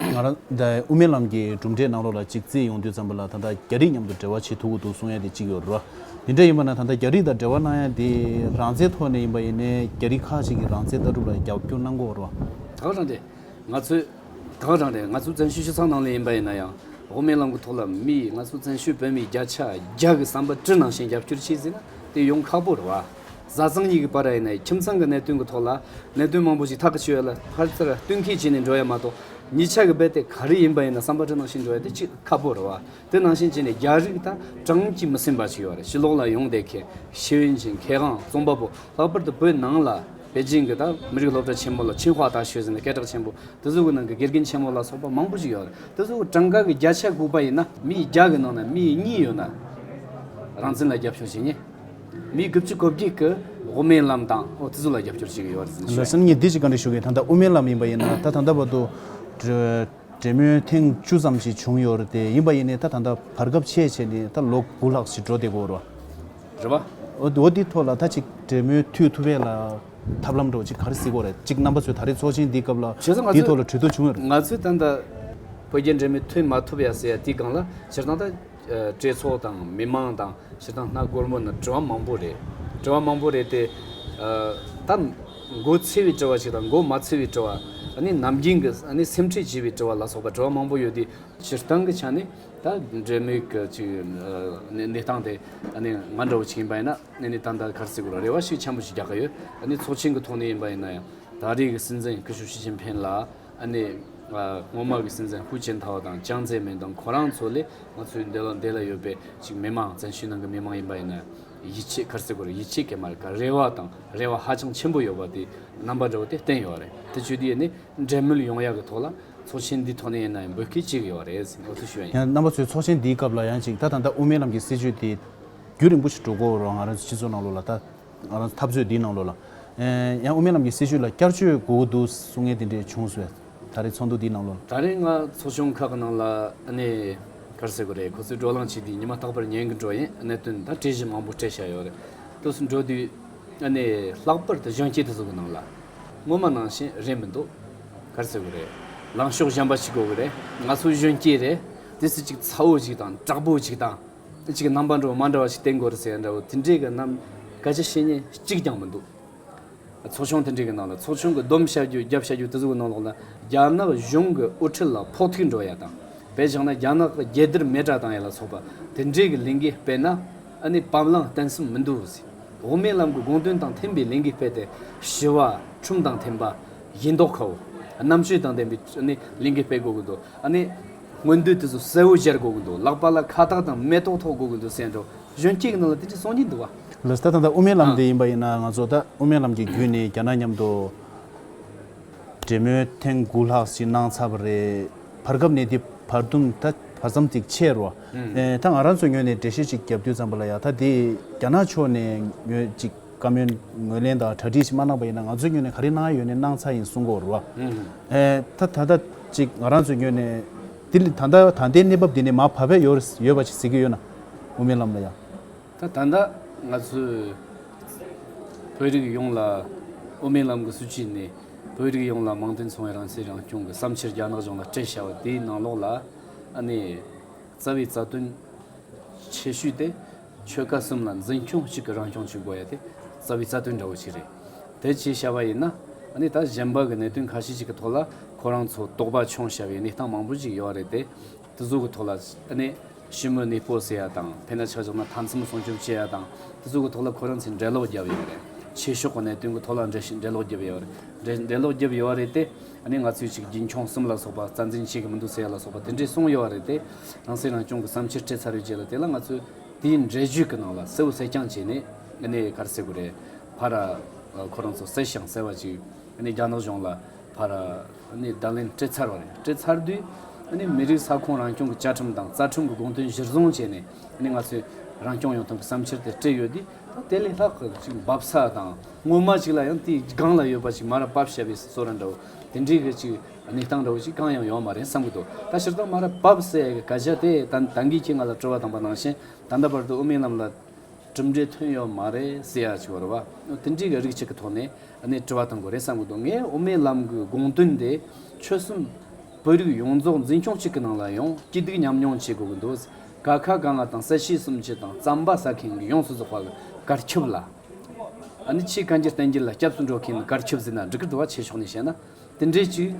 ང་རང་དབུ་མའི་ལམ་གྱི་གྲུབ་འབྲས་གནང་རོགས་ལ་ཅིག་རྩིས་ཡོང་དུས་ཙམ་པོ་ལ་ད་ལྟ་རྒྱ་རིགས་མཉམ་དུ་འབྲེལ་བ་བྱེད་ཐུག་གི་འདུག་གསུང་ཡ་དེ་གཅིག་ཡོད་རོ། དེ་འདྲ་ཡིན་པ་ན་ད་ལྟ་རྒྱ་རིགས་དང་འབྲེལ་བ་གནང་ཡ་དེ་རང་བཙན་ཐོག་ནས་ཡིན་པ་ཡིན་ནའི་རྒྱ་རིགས་ཁག་ཅིག་གི་རང་བཙན་ལྟ་གྲུབ་ལ་རྒྱབ་སྐྱོར་གནང་དགོས་རོ། དག་རང་རེད། ང་ཚོས། དག་རང་རེད་ང་ཚོ་བཙན་ཤུལ་ཆུ་ཚང་ནང་ལས་ཡིན་པ་ཡིན་ན་ཡང། དབུ་མའི་ལམ་གི་ཐོག་ལ་མི་ཡིས་ང་ཚོ་བཙན་ཤུལ་བོད་མི་བརྒྱ་ཆ་བརྒྱ་གི་བསམ་པ་དཀྲི་ནང་བཞིན་རྒྱབ་སྐྱོར་བྱེད་སྲིད་ན་དེ་ཡོང་ཁག་པོ་རེད་བ། བཟའ་ཚང་གཉིས་ཀྱི་བར་ཨེ་ནའི་ཁྱིམ་ཚང་གི་གནད་དོན་གྱི་ཐོག་ལ་གནད་དོན་མང་པོ་ཞིག་ཐག་གིས་ཆོད་ཡོད་ལ་ཕར་ཚུར་བསྟུན་མཁས་བྱས་ནས་འགྲོ་ཡ་མ་གཏོགས་ཉིད་ཆ་གི་རྦད་དེ་ག་རེ་ཡིན་པ་ཡིན་ན་བསམ་པ་ཁྲོ་ནང་བཞིན་འགྲོ་ཡ་དེ་ཅི་ཁག་པོ་རེད་བ་དེ་ནང་བཞིན་བྱས་ནས་རྒྱ་རིགས་དང་ཀྲང་གིས་མི་སེམས་པ་ཞིག་ཡོད་རེད་ཕྱི་ལོག་ལ་ཡོང་བསྡད་མཁན་ཤེས་ཡོན་ཅན་གལ་འགངས་རྩོམ་པ་པོ་ལྷག་པར་དུ་བོད་ནང་ལ་པེ་ཅིང་གི་དང་མི་རིགས་སློབ་གྲྭ་ཆེན་མོ་ལ་ཆིན་ཧྭ་དང་ཞོས་ཟིན་ལ་སྐད་གྲགས་ཆེན་པོ་དེ་ཚོ་གི་ནང་གི་དགེ་རྒན་ཆེན་མོ་ལ་སོགས་པ་མང་པོ་ཞིག་ཡོད་རེད་དེ་ཚོ་གི་ཀྲང་ག་གི་རྒྱ་ཆ་ལྐུགས་པ་ཡིན་ན་མི་ཡི་རྒྱ་གི་ནང་ན་མི་ཡི་སྙིང་ཡོད་ན་རང་བཙན་ལ་རྒྱབ་ཤོག་བྱེད་ངེས། མི་དགུ་བཅུ་གོ་བརྒྱད་ཀྱི་དབུ་མའི་ལམ་དང་ཨོ་རྩི་ལ་རྒྱབ་སྐྱོར་བྱེད་ཀྱི་ཡོད་པ་རེད་ཟེར་ནས་བཤད། ལ་སེམས་ཉིད་བདེ་སྐྱིད་གང་འདྲ་ཞུ་མཁན་ད་ལྟ་དབུ་མའི་ལམ་ཡིན་པ་ཡིན་ན་ད་ད་ལྟ་བར་དུ། འབྲེལ་མོལ་ཐེངས་བཅུ་ཙམ་ཞིག་བྱུང་ཡོད་རེད་དེ་ཡིན་པ་ཡིན་ནས་ད་ད་ལྟ་བར་སྐབས་ཕྱེད་ཕྱེད་ནས་ད་ལོ་དགུ་ལྷག་ཞིག་འགྲོ་བསྡད་དགོས་རེད། རེད་པ། འོ་དེའི་ཐོག་ལ་ད་ཅིག་འབྲེལ་མོལ་མཐུད་ཐུབ་པའི་ལ་ཐབས་ལམ་འགྲོ་བ་ཅིག་ག་རེ་སྲིད་དགོས་རེད་ཅིག་རྣམ་པ་ཚོས་ད་རེས་ཚོགས་ཆེན་འདིའི་སྐབས་ལ་བྱས་ཙང་ང་དེའི་ཚོས་ཐོག་ལ་གྲོས་བསྡུར་བྱུང་ཡོད་རེད། ང་ཚོས་ད་ལྟ་བོད་རྒྱའི་འབྲེལ་མོལ་མཐུད་མ་ཐུབ་ཡ་ཟེར་ཡ་དེའི་སྒང་ལ་བྱས་ཙང་ད། སྤྲེལ་ཚོགས་དང་མི་དམངས་དང་གཞི་དང་སྣ་སྒོར་མོ་ན་དྲི་བ་མང་པོ་རེད། དྲི་བ་མང་པོ་རེད་དེ། ད་མགོ་ཚི་བའི་དྲི་བ་ཞིག་དང་མགོ་མ་ཚི་བའི་དྲི་བ། ནམ་རྒྱུན་གྱི་སེམས་ཁྲལ་བྱེད་པའི་དྲི་བ་ལ་སོགས་པ་དྲི་བ་མང་པོ་ཡོད་དེ། སྤྱིར་བཏང་གི་ཆ་ནས་ད་འབྲེལ་མེད་ཀྱི་ཅིག་གནས་སྟངས་དེ། ང་འདྲ་བོ་ཞིག་ཡིན་པ་ཡིན་ན་ད་ལྟ་གར་སྲིད་གོ་ལ་རེ་བ་ཞིག་ཆེན་པོ་ཞིག་རྒྱག་གི་ཡོད། ཚོགས་ཆེན་གྱི་ཐོག་ནས་ཡིན་པ་ཡིན་ན་ཡང། ད་རེས་ཀྱི་སྲིད་འཛིན་སྐུ་ཞབས་ཞི་ཅིན་ཕེན་ལ། ཨ་ནེ། སྔོན་མ་གི་སྲིད་འཛིན་ཧུའུ་ཅིན་ཐའོ་དང་ཅང་ཙེ་མིན་དང་ཁོ་རང་ཚོ་ལས་ང་ཚོའི་འདས་ལོ་འདས་ལ་ཡོད་པའི་ཅིག་མི་མང་བཙན་ཤུལ་ནང་གི་མི་མང་ཡིན་པ་ཡིན་ན། ཡིད་ཆེས་ཁར་སེ་གོ་རེ་ཡིད་ཆེས་ཀྱི་མ་རེད་ཀ་རེ་བ་དང་རེ་བ་ཧ་ཅང་ཆེན་པོ་ཡོད་པ་དེ་རྣམ་པ་འདྲ་བོ་དེ་བསྟན་ཡོད་རེད་དེ་བཅུ་དེ་ནི་འབྲེལ་མོལ་ཡོང་ཡག་གི་ཐོག་ལ་ཚོགས་ཆེན་འདི་ཐོག་ནས་ཡིན་ན་འབོད་སྐད་ཅིག་ཡོད་རེད་ཟེར་ནས་འུ་ཚོ་ཞུ་ཡ་ཡིན། ཡང་རྣམ་པ་ཚོས་ཚོགས་ཆེན་འདིའི་སྐབས་ལ་ཡང་ཅིག་ད་ད་ལྟ་དབུ་མའི་ལམ་གྱི་སྲིད་བྱུས་དེ་རྒྱུད་རིང་པོ་ཞིག་འགྲོ་དགོས་རུང་ང་རང་ཚོའི་སྤྱི་ཚོགས་ནང་ལོགས་ལ་ད་འཐབ་རྩོད་འདིའི་ནང་ལོ་ལ། ཡང་དབུ་མའི་ལམ་གྱི་སྲིད་བྱུས་ལ་བསྐྱར་བཅོས་དགོས་ཀྱི་འདུག་གསུང་ངན་དེ་འདྲས་བྱུང་བས། ད་རེས་ཚོགས་འདུ་འདིའི་ནང་ལོ་ལ། ད་རེས་སྔ་ཚོགས་ཆུང་ཁག་གི་ནང་ལ་གནས། གར་ཟེར་གི་རེད་ཁོ་ཚོས་བགྲོ་གླང་བྱས་དུས་ཉི་མ་རྟག་པར་ཉན་གི་འགྲོ་ཡིན་གནད་དོན་དང་དྲི་ཞིབ་མང་པོ་སྤྲད་བཞག་ཡོད་རེད། དུས་སུ་འགྲོ་དུས། ལྷག་པར་དུ་གཞོན་སྐྱེས་དེ་ཚོ་གི་ནང་ལ། སྔོན་མ་ནང་བཞིན་རེད་མི་འདུག། གར་ཟེར་གི་རེད། ལངས་ཕྱོགས་གཞན་པ་ཞིག་དགོས་གི་རེད། ང་ཚོ་གཞོན་སྐྱེས་རེད། དུས་སུ་ཅིག་ཚ་བོ་ཞིག་དང་དྲག་པོ་ཞིག་དང། གཅིག་གི་རྣམ་པ་འདྲ་བོ་མ་འདྲ་བ་ཞིག་བསྟན་དགོས་རེད་ཟེར་ཡ་འདྲ་བོ་དེ་འདྲའི་གི་རྣམ་དཀར་ཆ་ཤེས་ཉེན་གཅིག་ཀྱང་མི་འདུག་ཚོགས་ཆུང་དེ་འདྲའི་གི་ནང་ལ་ཚོགས་ཆུང་གི་སྡོམ་བཞག་རྒྱུ་རྒྱབ་བཞག་རྒྱུ་དེ་ཚོ་གི་ནང་ལོགས་ལ་རྒྱ་ནག་གཞུང་གི་དབུ་ཁྲིད་ལ་ཕོག་ཐུག་འགྲོ་ཡ་དང་བས་བཞག་ན་རྒྱ་ནག་གི་རྒྱལ་དར་མེ་བསྒྲགས་བཏང་ཡ་ལ་སོགས་པ་དེ་འདྲའི་གི་ལས་འགུལ་སྤེལ་ན་ཨ་ནི་བམ་ལང་བསྟན་སེམས་མི་འདུག་འོག་མའི་ལམ་གི་དགོངས་དོན་དང་མཐུན་པའི་ལས་འགུལ་སྤེལ་ཏེ་ཞི་བ་ཁྲིམས་དང་མཐུན་པ་ཡིན་མདོག་ཁའོ་རྣམ་དཔྱོད་དང་ལྡན་པའི་ཨ་ནི་ལས་འགུལ་སྤེལ་དགོས་གི་འདུག་ཨ་ནི། སྔོན་དུས་དེ་ཚོ་གསལ་བོ་གཞལ་དགོས་ཀྱི་འདུག་ལག་པ་ལ་ཁ་བཏགས་དང་མེ་ཏོག་ཐོགས་དགོས་ཀྱི་འདུག་གསལ་འགྲོ་གཞོན་སྐྱེས་ཀྱི་ནང་ལ་དེ་འདྲའི་སྲོལ་གཉིས་འདུག་བ། ལུས་ལྟ་དང་ད་དབུ་མའི་ལམ་དེ་ཡིན་པ་ཡིན་ན་ང་ཚོ་ད་དབུ་མའི་ལམ་གྱི་བརྒྱུད་ནས་རྒྱ་ནག་མཉམ་དུ་འབྲེལ་མོལ་ཐེངས་དགུ་ལྷག་ཅིག་གནང་ཚར་བ་རེད། བར་སྐབས་ནས་འདི་བར་དུམ་ད་བར་མཚམས་ཅིག་ཆད་རོ། ད་ང་རང་ཚོ་ངོས་ནས་འགྲེལ་བཤད་ཅིག་རྒྱབ་དུས་ཙམ་པོ་ལ་ཡག་ད་དེ་རྒྱ་ནག་ཕྱོགས་ནས་ངོས་ཅིག། བཀའ་མོལ་ངོས་ལེན་དང་གྲ་སྒྲིག་ཞིག་མ་གནང་པ་ཡིན་ན་ང་ཚོའི་ངོས་ནས་ག་རེ་གནང་ཡོད་ནས་གནང་ཚར་ཡིན་གསུང་སྐོར་རོ། ད་ད་ལྟ་ཅིག་ང་རང་ཚོའི་ངོས་ནས་དེ་ལ་ད་ལྟ་ད་ལྟའི་གནས་བབ་འདི་ནས་མ་བབ་པའི་ཡོ་ཡོད་པ་ཞིག་ཟེར་གྱི་ཡོད་ན་དབུ་མའི་ལམ་ལ་ཡང། ད་ད་ལྟ་ང་ཚོས་བོད་རིགས་ཡོངས་ལ་དབུ་མའི་ལམ་གྱི་སྲིད་བྱུས་ནི་བོད་རིགས་ཡོངས་ལ་མང་དུ་འཚོང་བའི་རང་བྱས་རང་སྐྱོང་གི་བསམ་འཆར་རྒྱ་ནག་གཞུང་ལ་སྤྲད་བཞག་པ་དེའི་ནང་ལོགས་ལ་ཨ་ནེ་རྩ་བའི་རྩ་དོན་ཆེ་ཤོས་ཏེ། ཆོལ་ཁ་གསུམ་ལ་འཛིན་སྐྱོང་གཅིག་གི་རང་སྐྱོང་གཅིག་དགོས་ཡ་དེ་རྩ་བའི་རྩ་དོན་འདྲ་བོ་ཞིག་རེད། དེ་བྱས་བྱ་བ་ཡིན་ན། ད་གཞན་པ་གི་གནད་དོན་ཁ་ཤས་ཅིག་གི་ཐོག་ལ་ཁོ་རང་ཚོ་དོགས་པ་འཁྱོངས་བྱ་བའི་གནས་སྟངས་མང་པོ་ཅིག་ཡོད་རེད་དེ། དེ་ཚོ་གི་ཐོག་ལ། ཞི་མོལ་གནས་སྤོ་ཟེར་ཡ་དང་དེ་འདྲ་ཆགས་ཆགས་ན་མཐའ་མཚམས་སྲུང་སྐྱོབ་བྱེད་ཡ་དང་དེ་ཚོ་གི་ཐོག་ལ་ཁོ་རང་ཚོས་འགྲེལ་ལོག་རྒྱབ་ཡོད་རེད། ཆེ་ཕྱོགས་གི་གནད་དོན་གི་ཐོག་ལ་འགྲེལ་ལོག་རྒྱབ་ཡོད་རེད། གནས་ང་ཚོས་ཅིག་རྒྱུན་འཁྱོངས་གསུམ་ལ་སོགས་པ་རྩ་འཛིན་བྱེད་ཀྱི་མི་འདུག་ཟེར་ཡ་ལ་སོགས་པ་དེ་འདྲས་གསུངས་ཡོད་བ་རེད་དེ། ནང་སྲིད་རང་སྐྱོང་གི་བསམ་འཆར་སྤྲད་ཚར་ཡོད་རྗེས་ལ་དེ་ལ་ང་ཚོས་དེའི་འགྲེལ་བརྗོད་ཀྱི་ནང་ལ་གསལ་བོ་གསལ་རྐྱང་བྱས་ནས་གནས་ཡས་ཁར་གསལ་བོ་རེད། ཕ་ར། ཁོ་རང་ཚོ་གསལ་ཞིང་གསལ་བ་ཅིག་གནས་རྒྱ་ནག་གཞུང་ལ་ཕ་ར། གནས་བརྡ་ལན་སྤྲད་ཚར་བ་རེད་སྤྲད་ཚར་དུས། གནས་མི་རིགས་ས་ཁོངས་རང་སྐྱོང་གི་བཅའ་ཁྲིམས་དང་རྩ་ཁྲིམས་ཀྱི་དགོངས་དོན་གཞིར་བཟུང་བྱས་ནས་གནས་ང་ཚོས་རང་སྐྱོང་ཡོང་ཐབས་ཀྱི་བསམ་འཆར་དེ་སྤྲད་ཡོད་དེ། དེ་ལས་ལྷག་གི་ཅིག་འབབ་ས་དང་སྔོན་མ་ཅིག་ལ་ཡང་དེའི་སྒང་ལ་ཡོད་པ་ཅིག་མ་ར་བབས་བྱས་པའི་བཟོ་ར་འདྲ་བོ་དེ་འདྲའི་གི་ཅིག་གནས་སྟངས་འདྲ་བོ་ཅིག་གང་ཡང་ཡོད་མ་རེད་བསམ་གི་འདུག་ད་ཕྱིར་བཏང་མ་ར་བབས་སའི་གི་ཀ་ཇ་དེ་ད་ད་འགིག་ཁྱེད་ང་ལ་སྤྲོ་བ་དང་པ་ནང་བཞིན་ད་ལྟ་བར་དུ་དབུ་མའི་ལམ་ལ་གྲུབ་འབྲས་ཐོན་ཡོད་མ་རེད་ཟེར་ཡག་ཅིག་བར་བ་དེ་འདྲའི་གི་རིགས་ཅིག་གི་ཐོག་ནས་ནས་དྲི་བ་གཏང་དགོས་རེད་བསམ་གི་འདུག་ངས་དབུ་མའི་ལམ་གི་དགོངས་དོན་དེ་ཆོལ་གསུམ་བོད་རིགས་ཡོངས་རྫོགས་འཛིན་སྐྱོང་གཅིག་གི་ནང་ལ་ཡང་སྐྱིད་སྡུག་མཉམ་མྱོང་བྱེད་དགོས་གི་འདུག། དགའ་ཁ་གང་ལ་དང་ས་གཞི་གསུམ་སྤྱི་དང་རྩམ་པ་ཟ་མཁན་གྱི་ཡོངས་སུ་རྫོགས་པ་གར་ཁྱབ་ལ། ནི་ཕྱིའི་གང་ཅི་བསྟན་གྱི་ལ་སྐྱབས་སུ་འགྲོ་མཁན་ནི་གར་ཁྱབ་ཟིན་ན་འགྲིག་གི་འགྲོ་བ་ཆེ་ཕྱོགས་ནས་བཤད་ན་དེ་འདྲའི་གཅིག་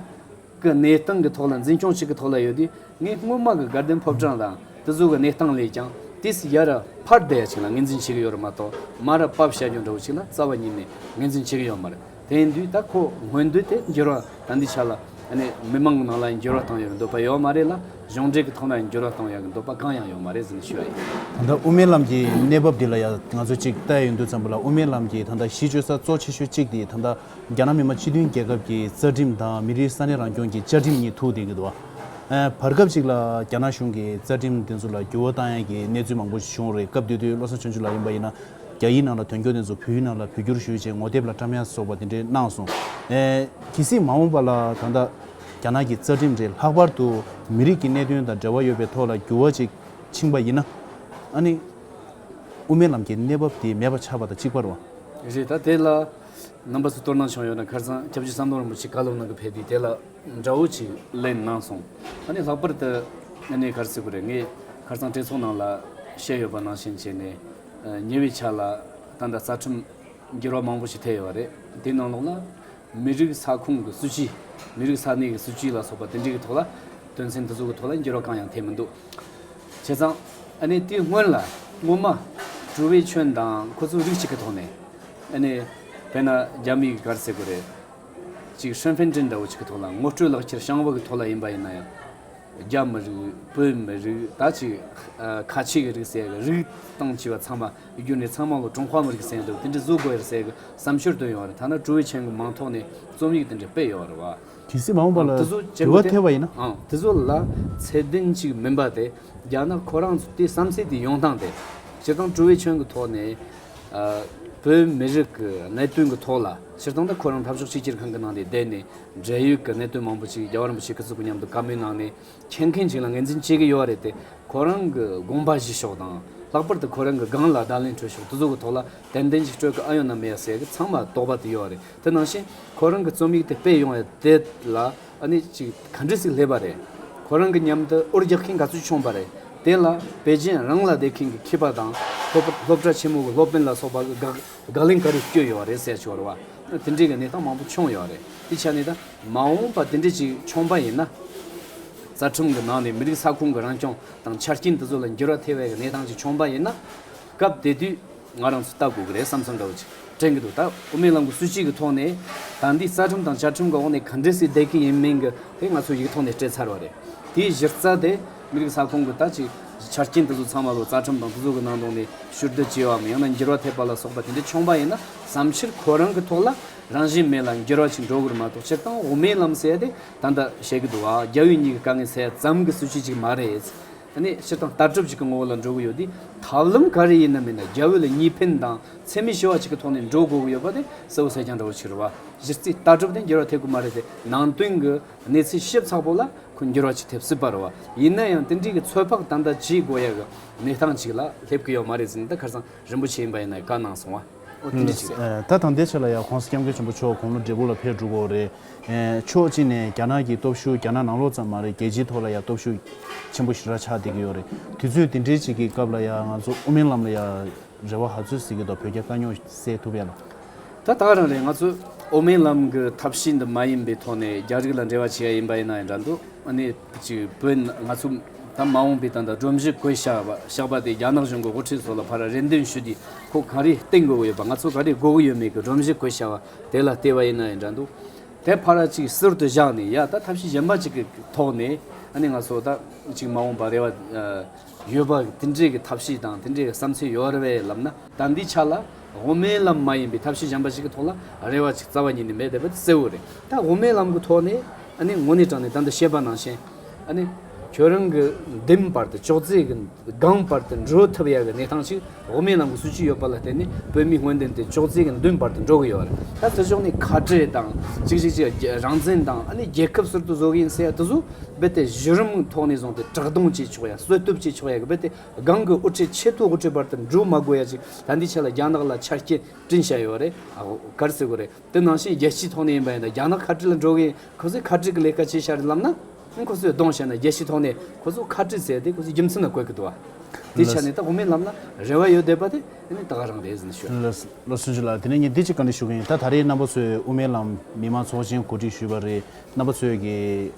གི་གནས་སྟངས་ཀྱི་ཐོག་ལ་འཛིན་སྐྱོང་གཅིག་གི་ཐོག་ལ་ཡོད་དུས་ངས་སྔོན་མ་གི་དགའ་ལྡན་ཕོ་བྲང་དང་དེ་ཚོ་གི་གནས་སྟངས་ལས་ཀྱང་དེ་སྲིད་ཡར་ཕར་བསྡད་ཡ་ཆེན་ལ་ངེས་འཛིན་བྱེད་ཀྱི་ཡོད་རེད་མ་གཏོགས་མར་ཕབ་བཤད་རྒྱུ་འདྲ་བོ་ཞིག་ལ་རྩ་བ་ཉིད་ནས་ངེས་འཛིན་བྱེད་ཀྱི་ཡོད་མ་རེད། དེ་འདུས་ད་ཁོ་སྔོན་འདུས་དེ་འགྱུར་བ་དང་འདི་ཆ་ལ་ནི་མི་མང་ནང་ལ་འགྱུར་བ་བཏང་ཡོད་འདོད་པ་ཡོད་མ་རེད་ལ་གཞུང་འབྲེལ་གྱི་ཐོག་ན་འགྱུར་བ་བཏང་ཡག་འདོད་པ་གང་ཡང་ཡོད་མ་རེད་ཟེར་ནས་ཞུས་བ་ཡིན། ད་ལྟ་དབུ་མའི་ལམ་གྱི་གནས་བབ་འདི་ལ་ཡང་ང་ཚོས་ཅིག་བལྟ་ཡི་འདུག་ཙམ་པོ་ལ་དབུ་མའི་ལམ་གྱི་ད་ལྟ་གཞི་བཅོལ་ས་གཙོ་ཆེ་ཤོས་གཅིག་དེ་ད་ལྟ་རྒྱ་ནག་མི་མང་སྤྱི་མཐུན་རྒྱལ་ཁབ་ཀྱི་རྩ་ཁྲིམས་དང་མི་རིགས་ས་གནས་རང་སྐྱོང་གྱི་བཅའ་ཁྲིམས་གཉིས་ཐུག་བསྡད་ཡོད། བར་སྐབས་ཅིག་ལ་རྒྱ་ནག་གཞུང་གིས་རྩ་ཁྲིམས་དེ་ཚོ་ལ་འགྱུར་བ་བཏང་ཡག་གི་གནས་ཚུལ་མང་པོ་བྱུང་རེད་སྐབས་དེ་དུས་བློ་བཟང་ཆོས་འབྱུང་ལགས་ཡིན་པ་ཡིན་ན། རྒྱ་ཡིག་ནང་ལ་དོན་འཁྱོལ་དེ་ཚོ་བོད་ཡིག་ནང་ལ་བོད་སྒྱུར་ཞུས་རྗེས་ངོ་དེབ་ལ་བཀྲམ་ཡ་སོགས་པ་དེ་འདྲའི་གནང་སོང། གལ་སྲིད་མ་འོངས་པ་ལ་ད་ལྟ་རྒྱ་ནག་གི་རྩ་ཁྲིམས་དེ་ལྷག་པར་དུ་མི་རིགས་ཀྱི་གནད་དོན་དང་འབྲེལ་བ་ཡོད་པའི་ཐོག་ལ་འགྱུར་བ་ཅིག་ཕྱིན་པ་ཡིན་ན། ཨ་ནི། དབུ་མའི་ལམ་གྱི་གནས་བབ་དེ་མེད་པ་ཆགས་པ་དང་གཅིག་པར་བ། རེད་ད་དེ་ལ་རྣམ་པ་ཚོ་གཏོར་གནང་བྱུང་ཡོད་ན་ཁར་ཚང་སྐྱབས་རྗེ་བསམ་གདོང་རིན་པོ་ཆེ་བཀའ་སློབ་གནང་གི་ཕེབས་དུས་དེ་ལ་འདྲ་བོ་ཅིག་གླེང་གནང་སོང། ཨ་ནི་ལྷག་པར་དུ་ཨ་ནི་ཁར་སིག་པོ་རེད་ངས་ཁར་ཚང་སྤྲེལ་ཚོགས་ནང་ལ་བཤད་ཡོད་པ་ནང་བཞིན་བྱས་ནས། ཉེ་བའི་ཆར་ལ་ཏང་དང་རྩ་ཁྲིམས་འགྱུར་བ་མང་པོ་ཞིག་ཐེབས་ཡོད་པ་རེད། དེའི་ནང་ལོགས་ལ། མི་རིགས་ས་ཁོངས་ཀྱི་སྲིད་ཇུས། མི་རིགས་ས་གནས་ཀྱི་སྲིད་ཇུས་ལ་སོགས་པ་དེ་འབྲེལ་གྱི་ཐོག་ལ། དོན་ཚན་དེ་ཚོ་གི་ཐོག་ལ་འགྱུར་བ་གང་ཡང་ཐེབས་མི་འདུག་བྱས་ཙང། ཨ་ནི་དེའི་སྔོན་ལ། སྔོན་མ། གྲུ་བའི་ཁྱོན་དང་ཁོ་ཚོའི་རིགས་གཅིག་གི་ཐོག་ནས། ཨ་ནི། བས་ན་རྒྱ་མིའི་གར་སའི་གོ་རེ། ཅིག་ཧྲེན་ཧྥེན་ཀྲེན་འདྲ་བོ་ཅིག་གི་ཐོག་ལ་ངོ་སྤྲོད་ལག་འཁྱེར་བཤང་བ་གི་ཐོག་ལ་ཡིན་པ་ཡིན་ན་ཡང། རྒྱ་མི་རིགས་བོད་མི་རིགས་ད་ཅི་ཁ་ཆེ་གི་རིགས་སད་གི་རིགས་སྟངས་ཆེ་བ་ཚང་མ་རྒྱུ་ནས་ཚང་མ་ལོ་ཀྲུང་ཧྭ་མི་རིགས་སད་འདུག་དེ་འདྲི་བཟོ་དགོས་རེད་སད་གི་བསམ་ཤོར་བཏོན་ཡོང་རེད་ཐ་ན་ཀྲུའུ་ཝེ་ཆན་གི་མང་ཐོག་ནས་རྩོམ་ཡིག་དེ་འདྲི་སྤེལ་ཡོང་རེད་བ། དེ་སྲིད་མ་འོངས་པ་ལ་དེ་ཚོ་བྱེད་འགྲུལ་བ་དགོས་ཐེབས་པ་ཡིན་ན། ཨང་དེ་ཚོ་ལ་ཚད་ལྡན་གཅིག་མིན་པ་དེ་རྒྱ་ནག་ཁོ་རང་ཚོ་དེ་བསམ་ཚད་དེ་ཡོང་སྟངས་དེ། སྤྱིར་བཏང་ཀྲུའུ་ཝེ་ཆན་གི་ཐོག་ནས་བོད་མི་རིགས་ཀྱི་གནད་དོན་གི་ཐོག་ལ་སྤྱིར་བཏང་ད་ཁོ་རང་འཐབ་ཕྱོགས་གཅིག་གྱུར་ཁང་གི་ནང་དེ་བསྡད་ནས་འབྲེལ་ཡོད་ཀྱི་གནད་དོན་མང་པོ་ཞིག་རྒྱལ་བ་རིན་པོ་ཆེ་སྐུ་གཟུགས་ཀྱི་མཉམ་དུ་བཀའ་མོལ་གནང་ནས་མཁྱེན་མཁན་ཞིག་ལ་ངེས་འཛིན་བྱེད་ཀྱི་ཡོད་རེད་དེ་ཁོ་རང་གི་དགོངས་པ་གཞི་ཤོག་དང་ལྷག་པར་དུ་ཁོ་རང་གི་སྒང་ལ་བརྡ་ལན་སྤྲོད་ཤོག་དུས་ཚོད་ཀྱི་ཐོག་ལ་དན་དན་ཞིག་སྤྲོད་ཀྱི་ཨ་ཡོད་ན་མེད་ཡ་ཟེར་གྱི་ཚང་མ་དོགས་པ་དེ་ཡོད་རེད་དེ་ནང་བཞིན་ཁོ་རང་གི་རྩོམ་ཡིག་དེ་སྤེལ་ཡོང་ཡ་དེ་ལ་ཨ་ནི་ཅིག་ག་འདྲི་ཟིག་སླེབས་པ་རེད་ཁོ་རང་གི་མཉམ་དུ་ཨུར་རྒྱག་མཁན་ག་ཚོད་བྱུང་པ་རེད་དེ་ལ་པེ་ཅིན་རང་ལ་བསྡད་མཁན་གྱི་ཁྱི་པ་དང་སློབ་གྲྭ་ཆེན་མོ་གྱི་སློབ་དཔོན་ལ་སོགས་པ་གི་དགག་བརྡ་ལན་ག་རེ་བསྐྱོད་ཡོད་རེད་གསལ་ཆོག་རེད་བ། དེ་འདྲའི་གི་ནས་ཐང་མང་པོ་མཆོངས་ཡོད་རེད་དེ་ཆ་ནས་ད་མ་འོངས་པ་དེ་འདྲའི་ཅིག་མཆོངས་པ་ཡིན་ན། རྩ་ཁྲིམས་གི་ནང་ནས་མི་རིགས་ས་ཁུང་གི་རང་སྐྱོང་དང་ཆ་རྐྱེན་དེ་ཚོ་ལ་འགྱུར་བ་ཐེ་བའི་གི་ནས་ཐང་ཅིག་མཆོངས་པ་ཡིན་ན། སྐབས་དེ་དུས་ང་རང་ཚོ་ལྟ་དགོས་གི་རེད་བསམ་བསམ་འདྲ་བོ་ཅིག་དྲན་གི་འདུག་ད་དབུ་མའི་ལམ་གི་སྲོལ་ཕྱིས་གི་ཐོག་ནས་ད་འདི་རྩ་ཁྲིམས་དང་ཆ་ཁྲིམས་གི་འོག་ནས་ག་འདྲའི་སྲིད་བསྡད་གི་ཡིན་མིན་གི་དེ་ང་ཚོ་ཡིག་ཐོག་ནས་སྤྲད་ཚར་བ་རེད་དེའི་གཞི་རྩ་དེ། མི་རིགས་ས་ཁོངས་ཀྱི་ད་ཅིག་ཆ་རྐྱེན་དེ་ཚོ་ཚང་མ་ལོ་ཙཱ་ཁྲིམས་དང་དེ་ཚོ་གི་ནང་དོན་ནས་ཞུ་བདེ་བྱེད་བའམ་ཡང་ན་འགྱུར་བ་ཐེབས་པ་ལ་སོགས་པ་དེ་འདྲའི་འཁྱོངས་པ་ཡིན་ན་བསམ་ཕྱིར་ཁོ་རང་གི་ཐོག་ལ་རང་བཞིན་མེད་ལ་འགྱུར་བ་ཞིག་འགྲོ་དགོས་མ་གཏོགས་སྤྱིར་བཏང་དབུ་མའི་ལམ་ཟེར་ཡ་དེ་ད་ལྟ་བཤད་ཀྱི་འདུག་ཨ་རྒྱ་བོད་གཉིས་ཀྱི་དཀའ་ངལ་སེལ་ཡ་ཙམ་གྱི་སྲིད་བྱུས་ཅིག་མ་རེད། དེ་ནི་སྤྱིར་བཏང་ལྟ་གྲུབ་ཅིག་གི་ངོ་བོ་ལ་འགྲོ་གི་ཡོད་དུས་ཐབས་ལམ་ག་རེ་ཡིན་ནམ་མིན་ན་རྒྱ་བོད་ལ་གཉིས་ཕན་དང་ཚད་མེད་ཞི་བ་ཅིག་གི་ཐོག་ནས་འགྲོ་དགོས་ཀྱི་ཡོད་པ་དེ་གསལ་བོ་གསལ་རྐྱང་འདྲ་བོ་ཆགས་རེད་བ། གཞི་རྩའི་ལྟ་གྲུབ་དེ་འགྱུར་བ་ཐེབས་ཀྱི་མ་རེད་དེ་ནང་དོན་གྱི་གནས་ཚུལ་ཤེས་ཚགས་པོ་ལ་ཁོས་འགྱུར་བ་ཅིག་ཐེབས་སྲིད་པར་བ་ཡིན་ན་ཡང་དེ་འདྲིའི་གི་ཚོད་དཔག་ད་ལྟ་བྱེད་དགོས་ཡ་གི་གནས་སྟངས་ཅིག་ལ་སླེབས་གི་ཡོད་མ་རེད་ཟིན་ད་ཁར་སང་རིན་པོ་ཆེ་ཡིན་པ་ཡིན་ན་བཀའ་གནང་སོང་བ་ཨོ་དེ་འདྲི་ཅིག་རེད། ད་དང་དེ་ཆེ་ལ་ཡང་ཁོང་སྐྱབས་མགོན་ཆེན་པོ་མཆོག་དགུང་ལོ་འབྲས་བུ་ལ་ཕེབས་འགྲོ་གོ་རེད། ཕྱོགས་གཅིག་ནས་རྒྱ་ནག་གི་སྟོབས་ཤུགས་རྒྱ་ནག་ནང་ལོགས་ཙམ་མ་རེད་རྒྱལ་སྤྱིའི་ཐོག་ལ་ཡང་སྟོབས་ཤུགས་ཆེན་པོ་ཞིག་ར་ཆགས་བསྡད་གི་ཡོད་རེད་དུས་ཚོད་དེ་འདྲི་ཅིག་གི་སྐབས་ལ་ཡང་ང་ཚོ་དབུ་མའི་ལམ་ལ་ཡང་རེ་བ་ཧ་ཚོད་ཟིག་གི་འདུག་བོད་རྒྱ་དཀའ་རྙོག་སེལ་ཐུབ་ཡ་ལ། ད་ལྟ་རང་རེ་ང་ཚོས་དབུ་མའི་ལམ་གྱི་ཐབས་ཤེས་འདི་མ་ཡིན་པའི་ཐོག་ནས་རྒྱ་རིགས་ལ་འབྲེལ་བ་བྱེད་ཡ་ཡིན་པ་ཡིན་ན་ཡང་འདྲ་འདུག་ཨ་ནི་གཅིག་བོད་ང་ཚོ་ད་མ་འོངས་པའི་ད་ལྟ་སྒྲོམ་གཞི་བཀོད་བཞག་པ་དེ་རྒྱ་ནག་གཞུང་གི་དབུ་ཁྲིད་སོགས་ལ་ཕར་རེ་འདུན་ཞུས་ཏེ་ཁོ་ག་རེ་བསྟེན་དགོས་ཀྱི་ཡོད་པ་ང་ཚོ་ག་རེ་དགོས་ཀྱི་ཡོད་མེད་ཀྱི་སྒྲོམ་གཞི་བཀོད་བཞག་པ་དེ་ལ་བལྟས་པ་ཡིན་ན་ཡང་འདྲ་འདུག་དེ་ཕར་གཅིག་ཟུར་དུ་བཞག་ནས་ཡ་ད་ཐབས་ཤེས་གཞན་པ་གཅིག་གི་ཐོག་ནས་ཨ་ནི་ང་ཚོ་ད་གཅིག་མ་འོངས་པ་རེ་བ་ཡོད་པ། དེ་འདྲའི་གི་ཐབས་ཤེས་དང་དེ་འདྲའི་གི་བསམ་ཚུལ་ཡོད་རེད་བའི་ལབ་ན། ཟླ་འདིའི་ཆ་ལ་དབུ་མའི་ལམ་མ་ཡིན་པའི་ཐབས་ཤེས་གཞན་པ་ཞིག་གི་ཐོག་ལ་རེ་བ་ཅིག་རྩ་བ་ཉིད་ནས་མེད་བསྡད་པ་དེ་གསལ་བོ་རེད་ད་དབུ་མའི་ལམ་གི་ཐོག་ནས་ཨ་ནི་ངོ་ནས་དྲངས་ནས་ད་ལྟ་བཤད་པ་ནང་བཞིན་ཨ་ནི་ཁྱོད་རང་གི་འདེམས་པར་དེ་ཅོག་ཙེ་གི་སྒང་པར་དེ་འགྲོ་ཐུབ་ཡ་གི་གནས་སྟངས་ཤིག་འོག་མའི་ནང་གི་སྲོལ་ཅི་ཡོད་པ་ལ་བརྟེན་ནས་བོད་མིའི་དངོས་དོན་དེ་ཅོག་ཙེ་གི་མདུན་བར་དུ་འགྲོ་གི་ཡོད་རེད། ད་དེ་ཕྱོགས་ནས་ཁ་བྲལ་དང། གཅིག་གཅིག་གཅིག་ལ་རང་བཙན་དང་ཨ་ནི་རྒྱལ་ཁབ་ཟུར་དུ་བཟོ་གི་ཡིན་ཟེར་ཡ་དེ་ཚོ་རྦད་དེ་གཞི་རིམ་ཐོག་ནས་བཟུང་སྟེ་དྲག་རྡུང་བྱེད་ཆོག་ཡ་གསོད་གཏུབ་བྱེད་ཆོག་ཡ་གི་རྦད་དེ་སྒང་གི་དབུ་ཁྲིད་ཆེས་མཐོའི་དབུ་ཁྲིད་བར་དུ་འབྲུ་མ་དགོས་ཡ་ཅིག་ད་འདི་ཆ་ལ་རྒྱ་ནག་ལ་ཆ་རྐྱེན་བཀྲིན་བྱས་ཡོད་རེད། གར་བརྩི་དགོས་རེད། དེ་ནང་བཞིན་རྒྱལ་སྤྱིའི་ཐོག་ནས་ཡིན་པ་ཡིན་ན་རྒྱ་ནག་ཁ་བྲལ་ལ་འགྲོ་གིན་ཁོ་ཚོས་ཁ་བྲལ་གྱི་ལས་ཀ་བྱེད་ཤར་ལབ་ན། ཁོ་ཚོས་གདོང་བཤད་ན་རྒྱལ་སྤྱིའི་ཐོག་ནས་ཁོ་ཚོ་ཁ་བྲལ་ཟེར་ཏེ་ཁོ་ཚོའི་རྒྱུ་མཚན་ལ་གོ་གི་འདུག་ཨ། དེའི་ཆ་ནས་ད་གོ་མིན་ལབ་ན་རེ་བ་ཡོད་འདོད་པ་དེ་ནི་ད་ག་རང་རེད་ཟིན་ཤོད། བློ་སེང་ལགས་དེ་ནས་ངས་འདི་གཅིག་བཀའ་འདྲི་ཞུ་གི་ཡིན་ད་ད་རེས་རྣམ་པ་ཚོས་དབུ་མའི་ལམ་མི་མང་ཚོགས་ཆེན་གོ་སྒྲིག་ཞུས་པ་རེད་རྣམ་པ་ཚོས་གི་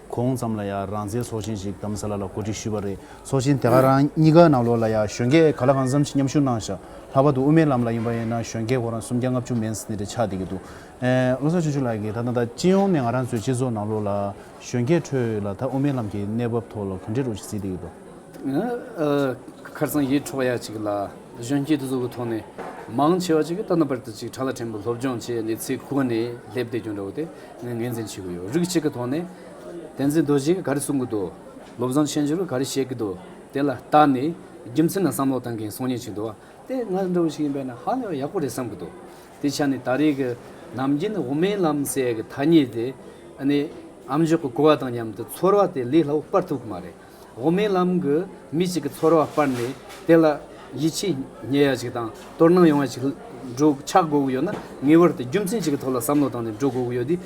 གོང་ཙམ་ལ་ཡང་རང་བཙན་ཚོགས་ཆེན་ཞིག་གདམ་ས་ལ་ལ་གོ་སྒྲིག་ཞུས་པ་རེད་ཚོགས་ཆེན་དེ་ག་རང་གཉིས་ཀ་ནང་ལོགས་ལ་ཡ་གཞོན་སྐྱེས་ག་ལ་གང་བསམ་ཤེས་མཉམ་ཞུགས་གནང་ཞག་ལྷག་པ་འདུག་དབུ་མའི་ལམ་ལ་ཡིན་པ་ཡིན་ན་གཞོན་སྐྱེས་གོ་རང་སུམ་བརྒྱ་ལྔ་བཅུ་མན་སྣེ་རེ་ཆགས་བསྡད་ཀྱི་འདུག་ཨེ། བློ་བཟང་ཆུང་ཆུང་ལགས་ཀྱིས་ད་ལྟ་ད་སྤྱི་ཡོངས་ནས་ང་རང་ཚོའི་སྤྱི་ཚོགས་ནང་ལོགས་ལ་གཞོན་སྐྱེས་ཁྲོད་ལ་ད་དབུ་མའི་ལམ་གྱི་གནས་བབ་ཐོག་ལ་ག་འདྲའི་རོ་ཞིག་བཟི་བསྡད་ཀྱི་འདུག། ཁར་ཚང་ཡིད་འཕྲོག་པ་ཡག་ཅིག་ལ་གཞོན་སྐྱེས་དེ་ཚོ་གི་ཐོག་ནས་མང་ཆེ་བ་ཅིག་གིས་ད་ལྟ་བར་དུ་ཅིག་གྲྭ་ལ་ཕྲན་བུ་སློབ་སྦྱོང་བྱས་ནས་ཚེ་གུག་ནས་སླེབས་བསྡད་རྒྱུ་འདྲ་བོ་དེ་ངས་ངེས་འཛིན་བྱེད་ཀྱི་ཡོད་རིགས་གཅིག་གི་ཐོག་ནས། བསྟན་འཛིན་རྡོ་རྗེས་ག་རེ་གསུང་གི་འདུག། བློ་བཟང་ཆོས་འབྱོར་ག་རེ་བཤད་ཀྱི་འདུག་དེ་ལ་ལྟ་ནས་རྒྱུ་མཚན་དང་བསམ་བློ་བཏང་མཁན་སོང་ཉེན་བྱུང་འདུག་དེ་ང་འདྲ་བོ་ཞིག་ཡིན་པས་ན་ཧ་ལས་པ་ཡག་པོ་རེད་བསམ་གྱི་འདུག་དེའི་ཆ་ནས་ད་རེས་ཀྱི་ནམ་རྒྱུན་དབུ་མའི་ལམ་ཟེར་ཡག་གི་ཐ་སྙད་དེ་ནི་ཨམ་ཅོག་གི་གོ་བ་དང་མཉམ་དུ་ཚོར་བ་དེ་ལས་སླ་བོ་སྤར་ཐུབ་ཀྱི་མ་རེད། དབུ་མའི་ལམ་གྱི་མི་གཅིག་གི་ཚོར་བ་སྤར་ནས་དེ་ལ། ཡིད་ཆེས་ཉེ་ཡ་ཞིག་དང་དོར་སྣང་ཡོང་བ་ཞིག་འགྲོ་ཆགས་དགོས་ཀྱི་ཡོད་ན་ངེས་པར་དུ་རྒྱུ་མཚན་ཞིག་གི་ཐོག་ལ་བསམ་བློ་བཏང་ནས་འགྲོ་དགོས་ཀྱི་ཡོད་དེ།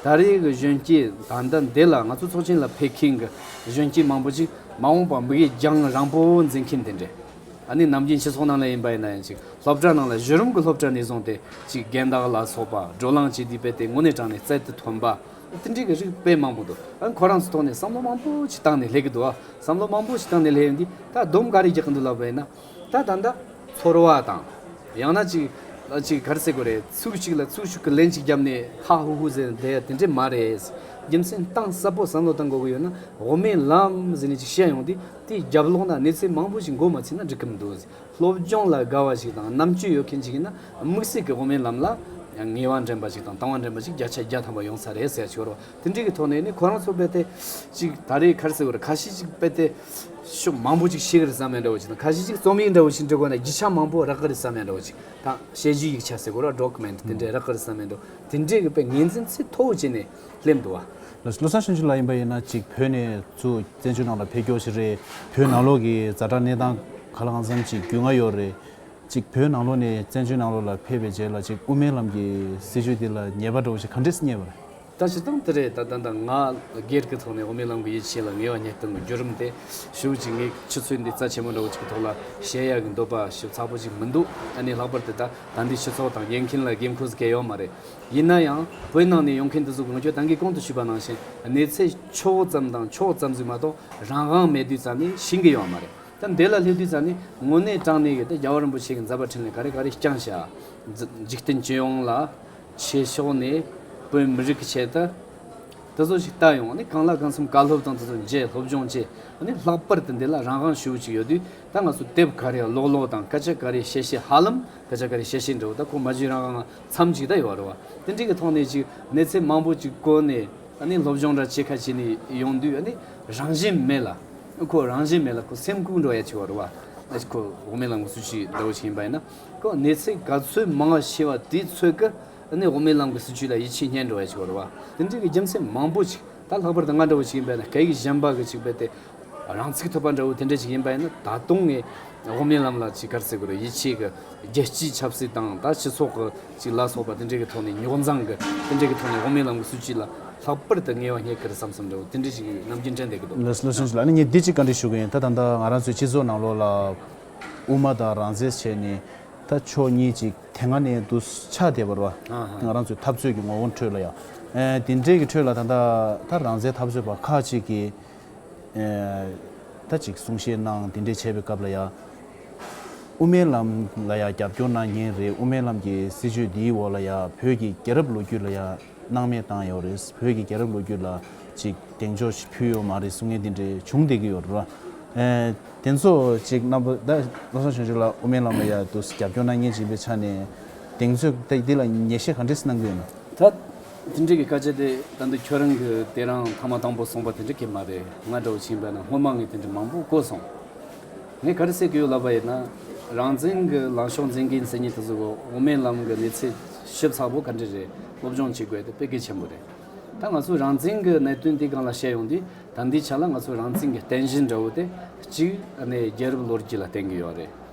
ད་རེས་ཀྱི་གཞོན་སྐྱེས་དག་ཟླ་འདི་ལ་ང་ཚོ་ཚོགས་ཆེན་ལ་ཕེབས་མཁན་གྱི་གཞོན་སྐྱེས་མང་པོ་ཞིག་མ་འོངས་པར་མི་གཡས་འགྱངས་རང་པོ་འཛིན་མཁན་དེ་འདྲས་ཨ་ནི་ནམ་རྒྱུན་ཕྱི་ཚོགས་ནང་ལ་ཡིན་པ་ཡིན་ན་ཡིན་ཅིག་སློབ་གྲྭ་ནང་ལ་གཞི་རིམ་གྱི་སློབ་གྲྭ་ནས་བཟུང་སྟེ་ཅིག་རྒན་བདག་ལ་སོགས་པ་བགྲོ་གླང་བྱེད་དུས་དཔེ་དེབ་དངོས་གནས་དྲངས་ནས་རྩལ་དུ་ཐོན་པ། ཟིན་བྲིས་ཀྱི་རིགས་དཔེ་མང་པོ་འདུག་ཁོ་རང་ཚོའི་ཐོག་ནས་བསམ་བློ་མང་པོ་ཞིག་བཏང་ནས་སླེབས་ཀྱི་འདུག་བསམ་བློ་མང་པོ་ཞིག་བཏང་ནས་སླེབས་འདི་ད་སྡོམ་ག་རེ་རྒྱག་གི་འདུག་ལབ་པས་ན་ད་ད་ད། ཚོར་བ་དང། ཡང་ན་ཅིག་ཅིག་ག་རེ་ཟེར་དགོས་རེད་ཚུགས་ཤིག་ལ་ཚུགས་ཤིག་གི་ལན་ཅིག་བརྒྱབ་ནས་ཧ་ཧུ་ཧུ་ཟེར་བསྡད་ཡ་དེ་འདྲས་མ་རེད། རྒྱུ་མཚན་གཏང་གསལ་པོ་བསམ་བློ་བཏང་དགོས་ཀྱི་ཡོད་ན་འོ་མའི་ལམ་ཟེར་ནས་ཅིག་བཤད་ཡོང་དེ་དེ་རྒྱབ་ལོག་ན་གནས་ཚུལ་མང་པོ་ཞིག་མགོ་མ་ཚུད་ན་འགྲིག་གི་མི་འདུག། སློབ་སྦྱོང་ལ་དགའ་བ་ཞིག་དང་རྣམ་དཔྱོད་ཡོད་མཁན་ཞིག་ཡིན་ན་དམིགས་བསལ་གྱི་དབུ་མའི་ལམ་ལ་ངེས་བ་འདྲེན་པ་ཞིག་དང་དང་བ་འདྲེན་པ་ཞིག་བརྒྱ་ཆ་བརྒྱ་ཐམ་པ་ཡོང་ས་རེད་ཟེར་ཞོར་བ་དེ་འདྲའི་གི་ཐོག་ནས་ནི་ཁོ་རང་ཚོ་དཔེ་དེབ་ཅིག་ད་རེས་ཁར་སེ་བོར་ཁ་ཤས་ཅིག་དཔེ་དེབ་ཤོག་མང་པོ་ཅིག་ཤེས་ཀི་རེད་བསམ་ཡས་འདྲ་བོ་ཅིག་དང་ཁ་ཤས་ཅིག་རྩོམ་ཡིག་འདྲ་བོ་ཞིག་འབྲི་དགོས་ན་བརྒྱུད་བྱ་མང་པོ་རག་གི་རེད་བསམ་ཡས་འདྲ་བོ་ཅིག་དང་དཔྱད་བརྗོད་ཡིག་ཆ་ཟེར་དགོས་ར Document དེ་འདྲའི་རག་གི་རེད་བསམ་ཡས་འདྲ་བོ་དེ་འདྲའི་གི་དཔེ་ངེས་འཛིན་ཚད་མཐོ་བོ་བྱས་ནས་སླེབས་འདུག་བ། ལོ་སར་ཕྱི་འབྱོར་ལ་ཡིན་པ་ཡིན་ན་ཅིག་བོད་ནས་ཚུ་བཙན་བྱོལ་ནང་ལ་ཕེབས་སྐྱོར་བྱེད་རེད་བོད་ནང་ལོག་གི་རྫ་དྲ་གནས་སྟངས་ག་ལ་གང་འཚམ་ཅིག་རྒྱུས་མངའ་ཡོད་རེད་ཅིག་བོད་ནང་ལོག་ནས་བཙན་བྱོལ་ནང་ལོག་ལ་ཕེབས་པའི་རྗེས་ལ་ཅིག་དབུ་མའི་ལམ་གྱི་སྲིད་བྱུས་དེ་ལ་ཉེས་པ་འགྲོ་བ་ཞིག་ག་འདྲས་སུ་རྙེད་པ་རེད། ད་བྱེད་སྟངས་དེ་རེད་ད་ད་ནངས་སྒེར་གྱི་ཐོག་ནས་དབུ་མའི་ལམ་གྱི་ཡིད་ཆེས་ལ་ངེས་བ་ཉེར་གཏོང་གི་བརྒྱུད་རིམ་དེ་ཞུ་ཅིག་ངས་ཆུ་ཚོད་འདི་རྩ་ཆེན་མོ་འདྲ་བོ་ཅིག་གི་ཐོག་ལ་བཤད་ཡག་གི་འདུག་པ་ཞིག་ཚགས་པོ་ཅིག་མི་འདུག་ད་ནི་ལྷག་པར་དུ་ད་ད་འདི་ཕྱི་ཚོགས་དང་ཉན་མཁན་ལ་དགོས་མཁོ་ཟེར་གལ་ཡོད་མ་རེད། ཡིན་ན་ཡང་བོད་ནང་ནས་ཡོང་མཁན་དེ་ཚོ་གང་ཁྱོད་ད་གིས་གང་དུ་ཞུས་པ་ནང་བཞིན་གནས་ཚད་ཆོག་བོ་ཙམ་དང་ཆོག་ཙམ་ཟིག་མ་གཏོགས་རང་དབང་མེད་དུས་ཙམ་ནས་ཤི་གི་ཡོད་མ་རེད་ད་འདི་ལ་སླེབས་དུས་ཙམ་ནས་དངོས་གནས་སྤྲང་ནས་གི་ད་རྒྱལ་བ་རིན་པོ་ཆེ་གི་མཛད་པ་ཕྲིན་ལས་ག་རེ་ག་རེ་རྐྱང་བྱ། འཇིག་རྟེན་སྤྱི་ཡོངས་ལ་ཆེ་ཕྱོགས་ནས་བོད་མི་རིགས་ཀྱི་ཆེད་དུ་དེ་ཚོ་ཞིག་བལྟ་ཡོང་གང་ལ་གང་འཚམ་བཀའ་སློབ་དང་དེ་ཚོ་མཇལ་སློབ་སྦྱོང་བྱས་ལྷག་པར་དུ་འདི་ལ་རང་དབང་ཞུ་བོ་ཅིག་ཡོད་དུས་ད་ང་ཚོ་དེབ་ག་རེ་ཀློག་ཀློག་དང་སྐད་ཆ་ག་རེ་བཤད་བཤད་ཧ་ལམ་ད་ཆ་ག་རེ་བཤད་བཤད་འདྲ་བོ་ད་ཁོ་མ་བརྗོད་རང་གང་འཚམས་ཅིག་ད་ཡོད་རེད་བ། དེ་འདྲ་གི་ཐོག་ནས་ཅིག་གནས་ཚད་མང་པོ་ཅིག་བཀོལ་ནས་ཨ་ནི་སློབ་སྦྱོང་འདྲ་བྱེད་ཁ་བྱེད་ནས་ཡོང་དུས་ཨ་ནི་རང་བཞིན་མེད་ལ། ཁོ་རང་བཞིན་མེད་ལ་ཁོ་སེམས་ཁུག་འགྲོ་ཡ་ཆེ་བ་རེད་བ། ཨ་ཅེ་ཁོ་འོག་མིན་ལ་ངོ་སུ་ཅིག་འདྲ་བོ་བྱེད་ཡིན་པ་ཡིན་ན། ཁོ་གནས་ཚད་ག་ཚོད་མང་བ་ཤེས་བ་དེའི་ཚོད་ཀ་ཨ་ནི་འོག་མིན་ལ་ངོ་སུ་ཅིག་ལ་ཡིད་ཆེས་རྙེད་འགྲོ་ཡ་ཆེ་བ་རེད་བ། དེ་འདྲ་གི་རྒྱུ་མཚན་མང་པོ་ཅིག་ད་ལྷག་པར་དུ་ང་འདྲ་བོ་ཅིག་ཡིན་པ་ན་གད་ཀྱི་གཞན་པ་གི་ཅིག་རྦད་དེ་རང་ཚིག་ཐོབ་པ་འདྲ་བོ་དེ་འདྲ་ཞིག་ཡིན་པ་ཡིན་ན་ད་དུང་ངས་དབུ་མའི་ལམ་ལ་ཅིག་དཀར་ཟེར་དགོས་རེད་ཡིད་ཆེས་ཀྱི་རྒྱལ་སྤྱིའི་ཆབ་སྲིད་དང་ད་སྤྱི་ཚོགས་ཀྱི་ཅིག་ལ་སོགས་པ་དེ་འདྲའི་གི་ཐོག་ནས་རྙོག་འཛང་གི་དེ་འདྲའི་གི་ཐོག་ནས་དབུ་མའི་ལམ་གྱི་སྲིད་བྱུས་ལ་ལྷག་པར་དུ་ངལ་བ་སྙེག་གི་རེད་བསམ་བསམ་འདྲ་བོ་དེ་འདྲ་ཞིག་ནམ་རྒྱུན་དྲན་བསྡད་ཀྱི་འདུག་ལོ་སུན་ཅུན་ལགས་ནས་ངས་འདི་ཅིག་བཀའ་འདྲི་ཞུ་གི་ཡིན་ད་ད་ལྟ་ང་རང་ཚོའི་སྤྱི་ཚོགས་ནང་ལོགས་ལ་དབུ་མ་དང་རང་བཙན་བྱས་ནས་ད་ཕྱོགས་གཉིས་ཅིག་དེ་སྔ་ནས་འདུག་ཆ་དེ་བར་བ་དེ་ང་རང་ཚོའི་འཐབ་རྩོད་ཀྱི་ངོ་བོ་ཁྲོད་ལ་ཡང་དེ་འདྲའི་གི་ཁྲོད་ལ་ད་ད་ད་རང་བཙན་འཐབ་རྩོད་པ་ཁག་ཅིག་གིས་ད་ཅིག་གསུང་བཤད་གནང་དེ་འདྲས་བྱས་པའི་སྐབས་ལ་ཡང། དབུ་མའི་ལམ་ལ་ཡང་རྒྱབ་སྐྱོར་གནང་མཁན་རེད་དབུ་མའི་ལམ་གྱི་སྲིད་བྱུས་འདིའི་འོག་ལ་ཡང་བོད་ཀྱི་རྒྱལ་རབས་ལོ་རྒྱུས་ལ་ཡང་སྣང་མེད་བཏང་ཡོད་རེད་བོད་ཀྱི་རྒྱལ་རབས་ལོ་རྒྱུས་ལ་ཅིག་གདེང་འཇོག་ཅིག་ཕུལ་ཡོད་མ་རེད་གསུང་མཁན་དེ་འདྲས་བྱུང་བསྡད་ཀྱི་ཡོད་རེད། དེ་ཚོ་ཅིག་རྣམ་པ་ད་བློ་བཟང་ཆོས་འབྱོར་ལགས་དབུ་མའི་ལམ་ལ་ཡང་དུ་རྒྱབ་སྐྱོར་གནང་མཁན་ཅིག་པའི་ཆ་ནས་གདེང་ཚོད་འདི་ལ་ངེས་ཤེས་ག་འདྲས་གནང་གི་ཡོད། དེ་འདྲ་གི་སྐད་ཆ་དེ་ད་འདི་ཁྱོད་རང་གི་དེ་རང་ཐ་མ་དང་པོ་གསུངས་པ་དེ་འདྲ་གི་མ་རེད་ང་འདྲ་བོ་བྱིན་པས་ན་སྔོན་མ་ངས་དེ་འདྲ་མང་པོ་གོ་སོང། ངས་ག་རེ་བསྲེ་གི་ཡོད་ལབ་པ་ཡིན་ན། རང་བཙན་གི་ལངས་ཕྱོགས་འཛིན་གིན་ཟེར་ཉིན་དེ་ཚོ་འོ་མའི་ལམ་གི་གནས་ཚད་ཞིབ་ཚགས་པོ་ག་འདྲ་རེད་སློབ་སྦྱོང་བྱེད་དགོས་དེ་དཔེ་གལ་ཆེན་པོ་རེད། ད་ང་ཚོས་རང་བཙན་གི་གནད་དོན་དེ་གང་ལ་བཤད་ཡོང་དུས་ད་འདི་ཆ་ལ་ང་ཚོས་རང་བཙན་གི་རྟེན་གཞི་འདྲ་བོ་དེ་གཅིག་ནས་རྒྱལ་རབས་ལོ་རྒྱུས་ལ་བརྟེན་གི་ཡོད་རེད།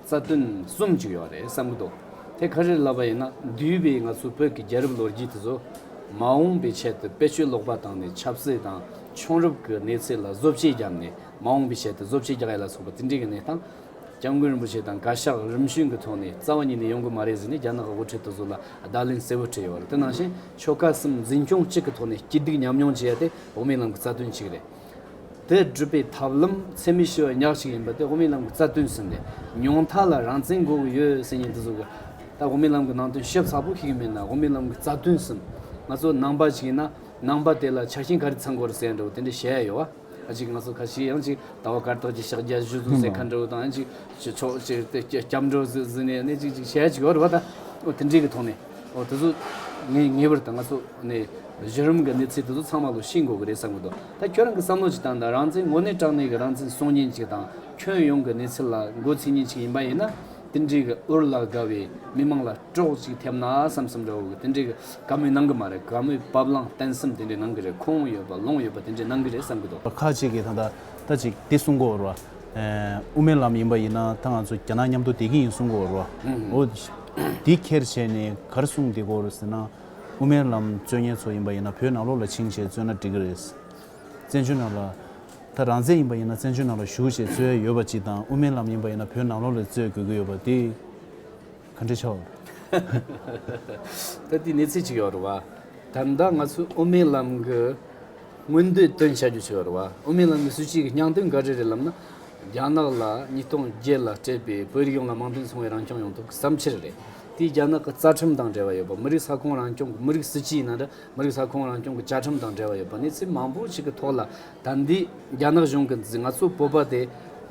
རྩ་དོན་གསུམ་བཅུག་ཡོད་རེད་བསམ་གྱི་འདུག་དེ་ག་རེར་ལབ་པ་ཡིན་ན་འདུས་པའི་ང་ཚོ་བོད་ཀྱི་རྒྱལ་རབས་ལོ་རྒྱུས་དེ་ཚོ་མ་འོངས་པའི་ཆེད་དུ་དཔེ་ཆོས་ཀློག་པ་དང་ནས་ཆབ་སྲིད་དང་ཆོང་རབས་ཀྱི་གནས་ཚད་ལ་བཟོ་བྱེད་བརྒྱབ་ནས་མ་འོངས་པའི་ཆེད་དུ་བཟོ་བྱེད་རྒྱག་ཡ་ལ་སོགས་པ་དེ་འདྲའི་གནས་སྟངས་སྐྱབས་མགོན་རིན་པོ་ཆེ་དང་བཀའ་ཤག་རིམ་བྱོན་གྱི་ཐོག་ནས་རྩ་བ་ཉིད་ནས་ཡོང་གི་མ་རེད་ཟེར་ནས་རྒྱ་ནག་གི་དབུ་ཁྲིད་དེ་ཚོ་ལ་བརྡ་ལན་གསལ་བོ་བྲིས་ཡོད་རེད་དེ་ནང་བཞིན་ཆོལ་ཁ་གསུམ་འཛིན་སྐྱོང་གཅིག་གི་ཐོག་ནས་སྐྱིད་སྡུག་མཉམ་མྱོང་བྱེད་ཡ་དེ་འོག་མའི་ལམ་གྱི་རྩ་དོན་གཅིག་རེད། དེ་སྒྲུབ་པའི་ཐབས་ལམ་ཚད་མེད་ཤོས་ཉག་གཅིག་ཡིན་པ་སྟེ་དབུ་མའི་ལམ་གྱི་རྩ་དོན་ཟིན་ནས་མྱོང་མཐའ་ལ་རང་བཙན་དགོས་ཀྱི་ཡོད་སེམས་ཉིད་དུ་གཟུགས། ད་དབུ་མའི་ལམ་གྱི་ནང་དོན་ཞིབ་ཚགས་པོ་ཤེས་ཀྱི་མེད་ན་དབུ་མའི་ལམ་གྱི་རྩ་དོན་ཟིན། ང་ཚོ་ནང་པ་ཞིག་ཡིན་ན་ནང་པ་དེ་ལ་ཆ་རྐྱེན་ག་རེ་ཚང་དགོས་རེད་ཟེར་འདྲ་བོ་དེ་འདྲ་བཤད་ཡ་ཡོད། ཁ་ཅིག་ང་ཚོ་ཁ་ཤས་ཡང་ཅིག་ད་བར་སྐར་ཐོག་ཅིག་ཕྱག་རྒྱ་བཞུ་བཟུང་ཟེར་ཁ་འདྲ་བོ་དང་ཡང་ཅིག་ཕྱོགས་ཅིག་སྐྱབས་འགྲོ་ཟེར་ཟིན་ནས་ནས་ཅིག་ཅིག་བཤད་ཅིག་ཡོད་རེད་བ་ད་དེ་འདྲའི་གི་ཐོག་ནས། འོ་དེ་ཚོ་ངེས་པར་དུ་ང་ཚོ་ནས་གཞི་རིམ་གྱི་གནས་ཚུལ་དེ་ཚོ་ཚང་མ་ལོ་ཤེས་དགོས་ཀྱི་རེད་བསམ་གྱི་འདུག་ད་ཁྱོད་རང་གི་བསམ་བློ་ཇི་ལྟར་འདུག་རང་བཙན་དངོས་གནས་དྲང་གནས་ཀྱི་རང་བཙན་སྲུང་ཉེན་ཅིག་དང་ཁྱོན་ཡོངས་ཀྱི་གནས་ཚུལ་ལ་མགོ་ཚུད་ཉེན་ཅིག་ཡིན་པ་ཡིན་ན་དེ་འདྲའི་གི་འུར་ལ་དགའ་བའི་མི་དམངས་ལ་སྐྲོག་ཅིག་ཐེབས་ན་བསམ་བསམ་འདྲ་བོ་གི་དེ་འདྲའི་གི་དགའ་མོས་གནང་གི་མ་རེད་དགའ་མོས་བབ་བླང་བརྟན་སེམས་དེ་འདྲའི་གནང་གི་རེད་ཁོང་ཡོད་པ་ལོང་ཡོད་པ་དེ་འདྲའི་གནང་གི་རེད་བསམ་གྱི་འདུག། ཁག་ཅིག་གིས་ད་ལྟ་ད་ཅིག་འདི་གསུང་གོ་རུ་བ། དབུ་མའི་ལམ་ཡིན་པ་ཡིན་ན་ད་ང་ཚོ་རྒྱ་ནག་མཉམ་དུ་བསྡད་ཀྱི་ཡིན་གསུང་གོ་རུ་བ། འོ། འདི་ཁྱེར་བྱས་ནས་གར་སོང་འདི་གོ་རེད་ཟེར་ན། དབུ་མའི་ལམ་རྩོད་ཉེར་ཚོ་ཡིན་པ་ཡིན་ན་བོད་ནང་ལོགས་ལ་ཕྱིན་ཞེས་རྩོད་ན་འགྲིག་གི་རེད། བཙན་བྱོལ་ནང་ལ། ད་རང་བཙན་ཡིན་པ་ཡིན་ན་བཙན་བྱོལ་ནང་ལ་བཞུགས་ཞེས་རྩོད་ཡས་ཡོད་པ་གཅིག་དང་དབུ་མའི་ལམ་ཡིན་པ་ཡིན་ན་བོད་ནང་ལོགས་ལས་རྩོད་དགོས་ཀྱི་ཡོད་པ་འདི། ག་འདྲའི་ཆ་བ། ད་དེའི་གནས་ཚུལ་གཅིག་ཡོད་རེད་བ། ད་ལྟ་ང་ཚོས་དབུ་མའི་ལམ་གྱི་མངོན་འདོད་བཏོན་བྱ་རྒྱུ་ཆེ་བ་རེད་བ། དབུ་མའི་ལམ་གྱི་སྲིད་བྱུས་ཀྱི་སྙང་དོན་འགའ་རེ་རེད་ལབ་ན། རྒྱ་ནག་ལ་ཉིས་སྟོང་བརྒྱད་ལ་སྤྲད་པའི་བོད་རིགས་ཡོངས་ལ་དམངས་དོན་ཚོང་བའི་རང་སྐྱོང་ཡོང་ཐབས་བསམ་འཆར་རེད། དེས་རྒྱ་ནག་གི་རྩ་ཁྲིམས་དང་འབྲེལ་བ་ཡོད་པ་མི་རིགས་ས་ཁོངས་རང་སྐྱོང་གི་མི་རིགས་སྲིད་སྤྱི་ཡིན་ན་འདྲ་མི་རིགས་ས་ཁོངས་རང་སྐྱོང་གི་བཅའ་ཁྲིམས་དང་འབྲེལ་བ་ཡོད་པ་གནས་ཚུལ་མང་པོ་ཞིག་གི་ཐོག་ལ་ད་འདི་རྒྱ་ནག་གཞུང་གིས་ང་ཚོ་བོད་པ་དེ་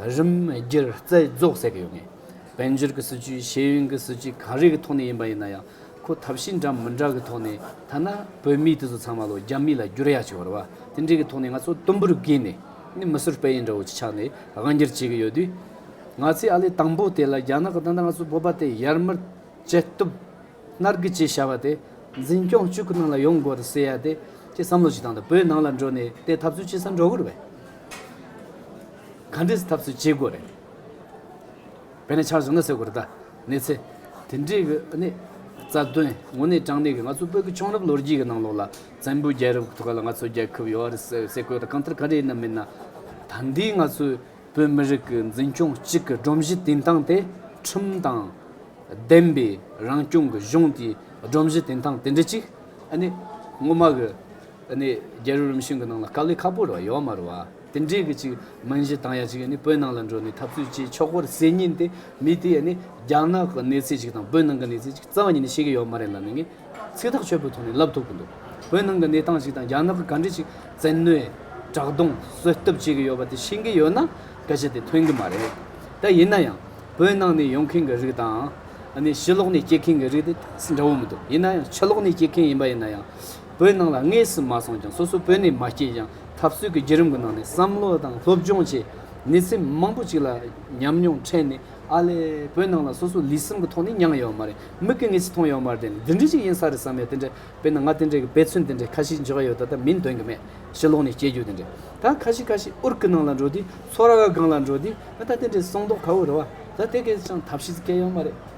རིམ་སྒེར་རྩད་རྫོགས་ཟེར་གི་ཡོད་ངེས། དཔལ་འབྱོར་གྱི་སྲིད་ཇུས་ཤེས་ཡོན་གྱི་སྲིད་ཇུས་ག་རེ་གི་ཐོག་ནས་ཡིན་པ་ཡིན་ན་ཡང་ཁོ་ཐབས་ཤེས་འདྲ་མི་འདྲ་གི་ཐོག་ནས་ཐ་ན་བོད་མི་དེ་ཚོ་ཚང་མ་ལོ་རྒྱ་མི་ལ་བསྒྱུར་ཡ་བྱེད་བར་བ་དེ་འདྲའི་གི་ཐོག་ནས་ང་ཚོ་དུམ་བུར་བགོས་ནས་ནི་མི་ཟུར་པ་ཡིན་འདྲ་བོ་ཅིག་ཆགས་ནས་དབང་བསྒྱུར་བྱེད་གི་ཡོད་དུས། ང་ཚོའི་ཨ་ལས་དང་པོ་དེ་ལ་རྒྱ་ནག་གི་ད་ལྟ་ང་ཚོ་བོད་པ་དེ་ཡར་མར་བྱེད་སྟོབས་མནར་རྒུ་བྱེད་བྱ་བ་དེ་འཛིན་སྐྱོང་བཅུག་གི་ནང་ལ་ཡོང་དགོས་རེད་ཟེར་ཡ་དེ་ཅི་བསམ་བློ་ཅིག་བཏང་ད་བོད་ནང་ལ་འགྲོ་ནས་དེ་ཐབས་ཚུལ་ཅི་ཟ་འགྲོ་གི་རེད་ག་འདྲས་ཐབས་ཚུལ་བྱེད་དགོས་རེད་བེད་ན་ཆགས་བྱུང་ན་ཟེར་དགོས་རེད་ད། གནས་ཚེ། དེ་འདྲའི་གི་གནས། རྩ་དོན། དངོས་གནས་དྲང་གནས་ཀྱི་ང་ཚོ་བོད་ཀྱི་ཆུང་རབས་ལོ་རྒྱུས་ཀྱི་ནང་ལོགས་ལ། བཙན་པོའི་རྒྱལ་རབས་ཐུགས་ཀ་ལ་ང་ཚོ་རྒྱལ་ཁབ་ཡོད་རེད་ཟེར་སའི་གོས་དང་གང་ལྟར་ག་རེ་ཡིན་ན་མིན་ན། ད་འདིའི་ང་ཚོའི་བོད་མི་རིགས་ཀྱི་འཛིན་སྐྱོང་གཅིག་གི་སྒྲོམ་གཞི་བཏིང་སྟངས་དེ་ཁྲིམས་དང། བདེན་པའི་རང་སྐྱོང་གི་གཞུང་དེའི་སྒྲོམ་གཞི་བཏིང་སྟངས་དེ་འདྲ་གཅིག་གནས། ངོ་མ་གི་གནས་རྒྱལ་རོལ་རིམ་བྱོན་གྱི་ནང་ལ་དཀའ་ལས་ཁག་པོ་རེ་བ་ཡོད་མ་རེད་བ། དེ་འདྲའི་གི་ཅིག་མིན་གཞི་དང་ཡ་ཅིག་ནི་བོད་ནང་ལ་འགྲོ་ནས་འཐབ་རྩོད་བྱེད་ཆོག་པར་གསལ་ཉིན་དེ་མི་དེ་ནི་རྒྱ་ནག་གི་གནས་ཚད་ཅིག་དང་བོད་ནང་གི་གནས་ཚད་ཅིག་རྩ་བ་ཉིད་ནས་ཤེས་ཀྱི་ཡོད་མ་རེད་ལབ་ནས་ངས་ཚིག་ཐག་ཆོད་པོའི་ཐོག་ནས་ལབ་ཐུབ་གི་འདུག་བོད་ནང་གི་གནས་སྟངས་ཅིག་དང་རྒྱ་ནག་གི་ག་འདྲི་ཅིག་བཙན་གནོད། དྲག་རྡུང་གསོད་གཏུབ་བྱེད་ཀྱི་ཡོད་པ་དེ་ཤེས་ཀྱི་ཡོད་ན་སྐད་ཆ་དེ་ཐོན་གི་མ་རེད། ད་ཡིན་ན་ཡང་བོད་ནང་ནས་ཡོང་མཁན་གི་རིགས་དང། ཕྱི་ལོག་ནས་སྐྱེས་མཁན་གི་རིགས་དེ་འདྲ་བོ་མི་འདུག་ཡིན་ན་ཡང་ཕྱི་ལོག་ནས་སྐྱེས་མཁན་ཡིན་པ་ཡིན་ན་ཡང། བོད་ནང་ལ་དངོས་སུ་མ་སོང་ཀྱང་སོ་སོ་བོད་ནས་མ་སྐྱེས་ཀྱང་འཐབ་རྩོད་ཀྱི་བརྒྱུད་རིམ་གྱི་ནང་ནས་བསམ་བློ་དང་སློབ་སྦྱོང་བཅས་ནུས་ཚད་མང་པོ་ཅིག་ལ་ཉམས་མྱོང་འཕྲད་ནས་ཨ་ལས་བོད་ནང་ལ་སོ་སོ་ལུས་སེམས་ཀྱི་ཐོག་ནས་མྱངས་ཡོད་མ་རེད་མིག་གི་ངོས་སུ་མཐོང་ཡོད་མ་རེད་དེ་འདི་འདྲ་ཞིག་ཡིན་ས་རེད་བསམ་ཡོད་དེ་འདྲ་དཔེར་ན་ང་དེ་འདྲའི་དཔེ་མཚོན་དེ་འདྲ་ཁ་ཤས་འཇོག་ཡ་ཡོད་ད་ལྟ་མིང་འདོན་གྱི་མེད་ཕྱི་ལོགས་ནས་སྐྱེས་རྒྱུད་དེ་འདྲ་ད་ཁ་ཤས་ཁ་ཤས་ཨུར་ཀི་ནང་ལ་འགྲོ་དུས་ཚོགས་ར་ག་གང་ལ་འགྲོ་དུས་ད་དེ་འདྲའི་སྲོང་མདོག་ཁ་བོ་རེད་བ་ད་དེ་གས་ཀྱང་ཐབས་ཤེས་ཀྱི་སྐལ་ཡོད་མ་རེད།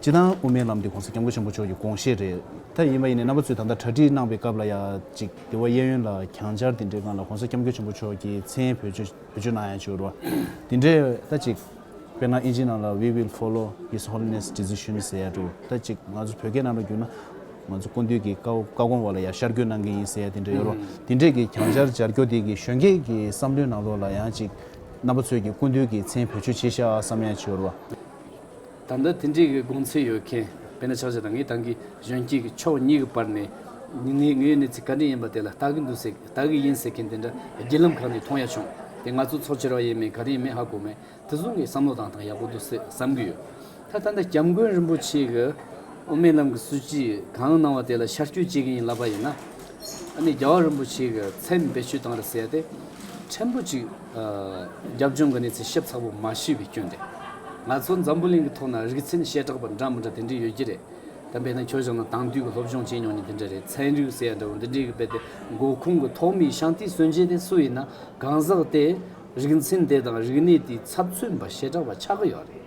སྤྱི་བཏང་དབུ་མའི་ལམ་འདི་གོང་ས་སྐྱབས་མགོན་ཆེན་པོ་མཆོག་གི་དགོངས་བཞེད་རེད། ད་ཡིན་པ་ཡིན་ནས་རྣམ་པ་ཚོས་ད་ལྟ་གྲ་སྒྲིག་གནང་བའི་སྐབས་ལ་ཡང་ཅིག་དེ་བ་གཡས་གཡོན་ལ་གྱང་སྦྱར་དེ་འདྲའི་སྒང་ལ་གོང་ས་སྐྱབས་མགོན་ཆེན་པོ་མཆོག་གི་མཚན་ཡན་བོད་བརྗོད་བོད་བརྗོད་གནང་ཡང་བྱོས་རོ། དེ་འདྲས་ད་ཅིག་དཔེར་ན་ཨིན་ཇི་ནང་ལ We will follow His Holiness Decision ཟེར་ཡ་འགྲོ། ད་ཅིག་ང་ཚོ་བོད་སྐད་ནང་ལ་བསྒྱུར་ན་ང་ཚོ་སྐུ་མདུན་གྱི་བཀའ་བཀའ་དགོངས་བ་ལ་ཡང་ཤར་སྐྱོད་གནང་གི་ཡིན་ཟེར་ཡ་དེ་འདྲས་ཡོད་རོ། དེ་འདྲས་ཀྱི་གྱང་སྦྱར་སྦྱར་སྐྱོ་དེ་གི་གཞོན་སྐྱེས་ཀྱི་བསམ་བློའི་ནང་ལོགས་ལ་ཡང་ཅིག་རྣམ་པ་ཚོས་ཀྱི་སྐུ་མདུན་གྱི་མཚན་བོད་བརྗོད་བྱེད་ཤག་བསམ་ཡང་བྱོས་རོ། ད་ལྟ་དེ་འདྲའི་དགོངས་ཚུལ་ཡོད་མཁན་བེ་ན་ཆགས་ཆགས་དང་ངེད་དང་གི་གཞོན་སྐྱེས་ཀྱི་ཕྱོགས་གཉིས་ཀྱི་བར་ནས་ངའི་ངའི་གནས་ཚུལ་ག་འདྲའི་ཡིན་པ་དེ་ལ་བལྟ་གི་འདུག་ཟེར་བལྟ་གི་ཡིན་ཟེར་མཁན་དེ་འདྲ་བརྒྱུད་ལམ་ཁག་ནས་མཐོང་ཡ་བྱུང་དེ་ང་ཚོ་ཚོ་ཁྱེར་བ་ཡིན་མིན་ག་རེ་ཡིན་མིན་ཧ་གོ་མེད་དེ་གཟུགས་ངའི་བསམ་བློ་དང་ཐང་ཡག་པོ་འདུག་ཟེར་བསམ་གི་ཡོད་ད་ལྟ་འདི་སྐྱབས་མགོན་རིན་པོ་ཆེ་གི་དབུ་མའི་ལམ་གྱི་སྲོལ་ཇི་གང་གནང་བ་དེ་ལ་ཤར་སྐྱོད་བྱེད་ཀྱི་ཡིན་ལབ་པ་ཡིན་ན་ཨ་ནི་རྒྱལ་བ་རིན་པོ་ཆེ་གི་མཚན་བེད་སྤྱོད་བཏང་རེ་ཟེར་ཡ་དེ་ཕྲན་བུ་ཅིག། རྒྱབ་ལྗོངས་ཀྱི་གནས་ཚུལ་ཤེས་ཚ་པོ་མ་ཤེས་པའི་སྐྱོན་དེ། ང་ཚོ་འཛམ་བུ་གླིང་གི་ཐོག་ན་རིག་ཚན་ཤེས་དྲགས་པ་འདྲ་མི་འདྲ་དེ་འདྲའི་ཡོད་ཀྱི་རེད། དེ་བས་ན་ཁྱོད་ཅག་ནང་དྭང་དུས་ཀྱི་སློབ་སྦྱོང་བྱས་མྱོང་ནི་འདི་འདྲ་རེད་ཚན་རིག་ཟེར་ཡ་འདྲ་བོ་འདི་འདྲའི་གི་བལ་ཏེ་མགོ་ཁུངས་ཀྱི་ཐོག་མའི་ཤང་ཏི་སོན་རྗེས་དེ་སུ་ཡིན་ན་གང་ཟག་དེས་རིག་ཚན་དེ་དང་རིག་གནས་དེའི་ཚབ་མཚོན་པ་ཤེས་དྲགས་པ་ཆགས་ཀྱི་ཡོད་རེད།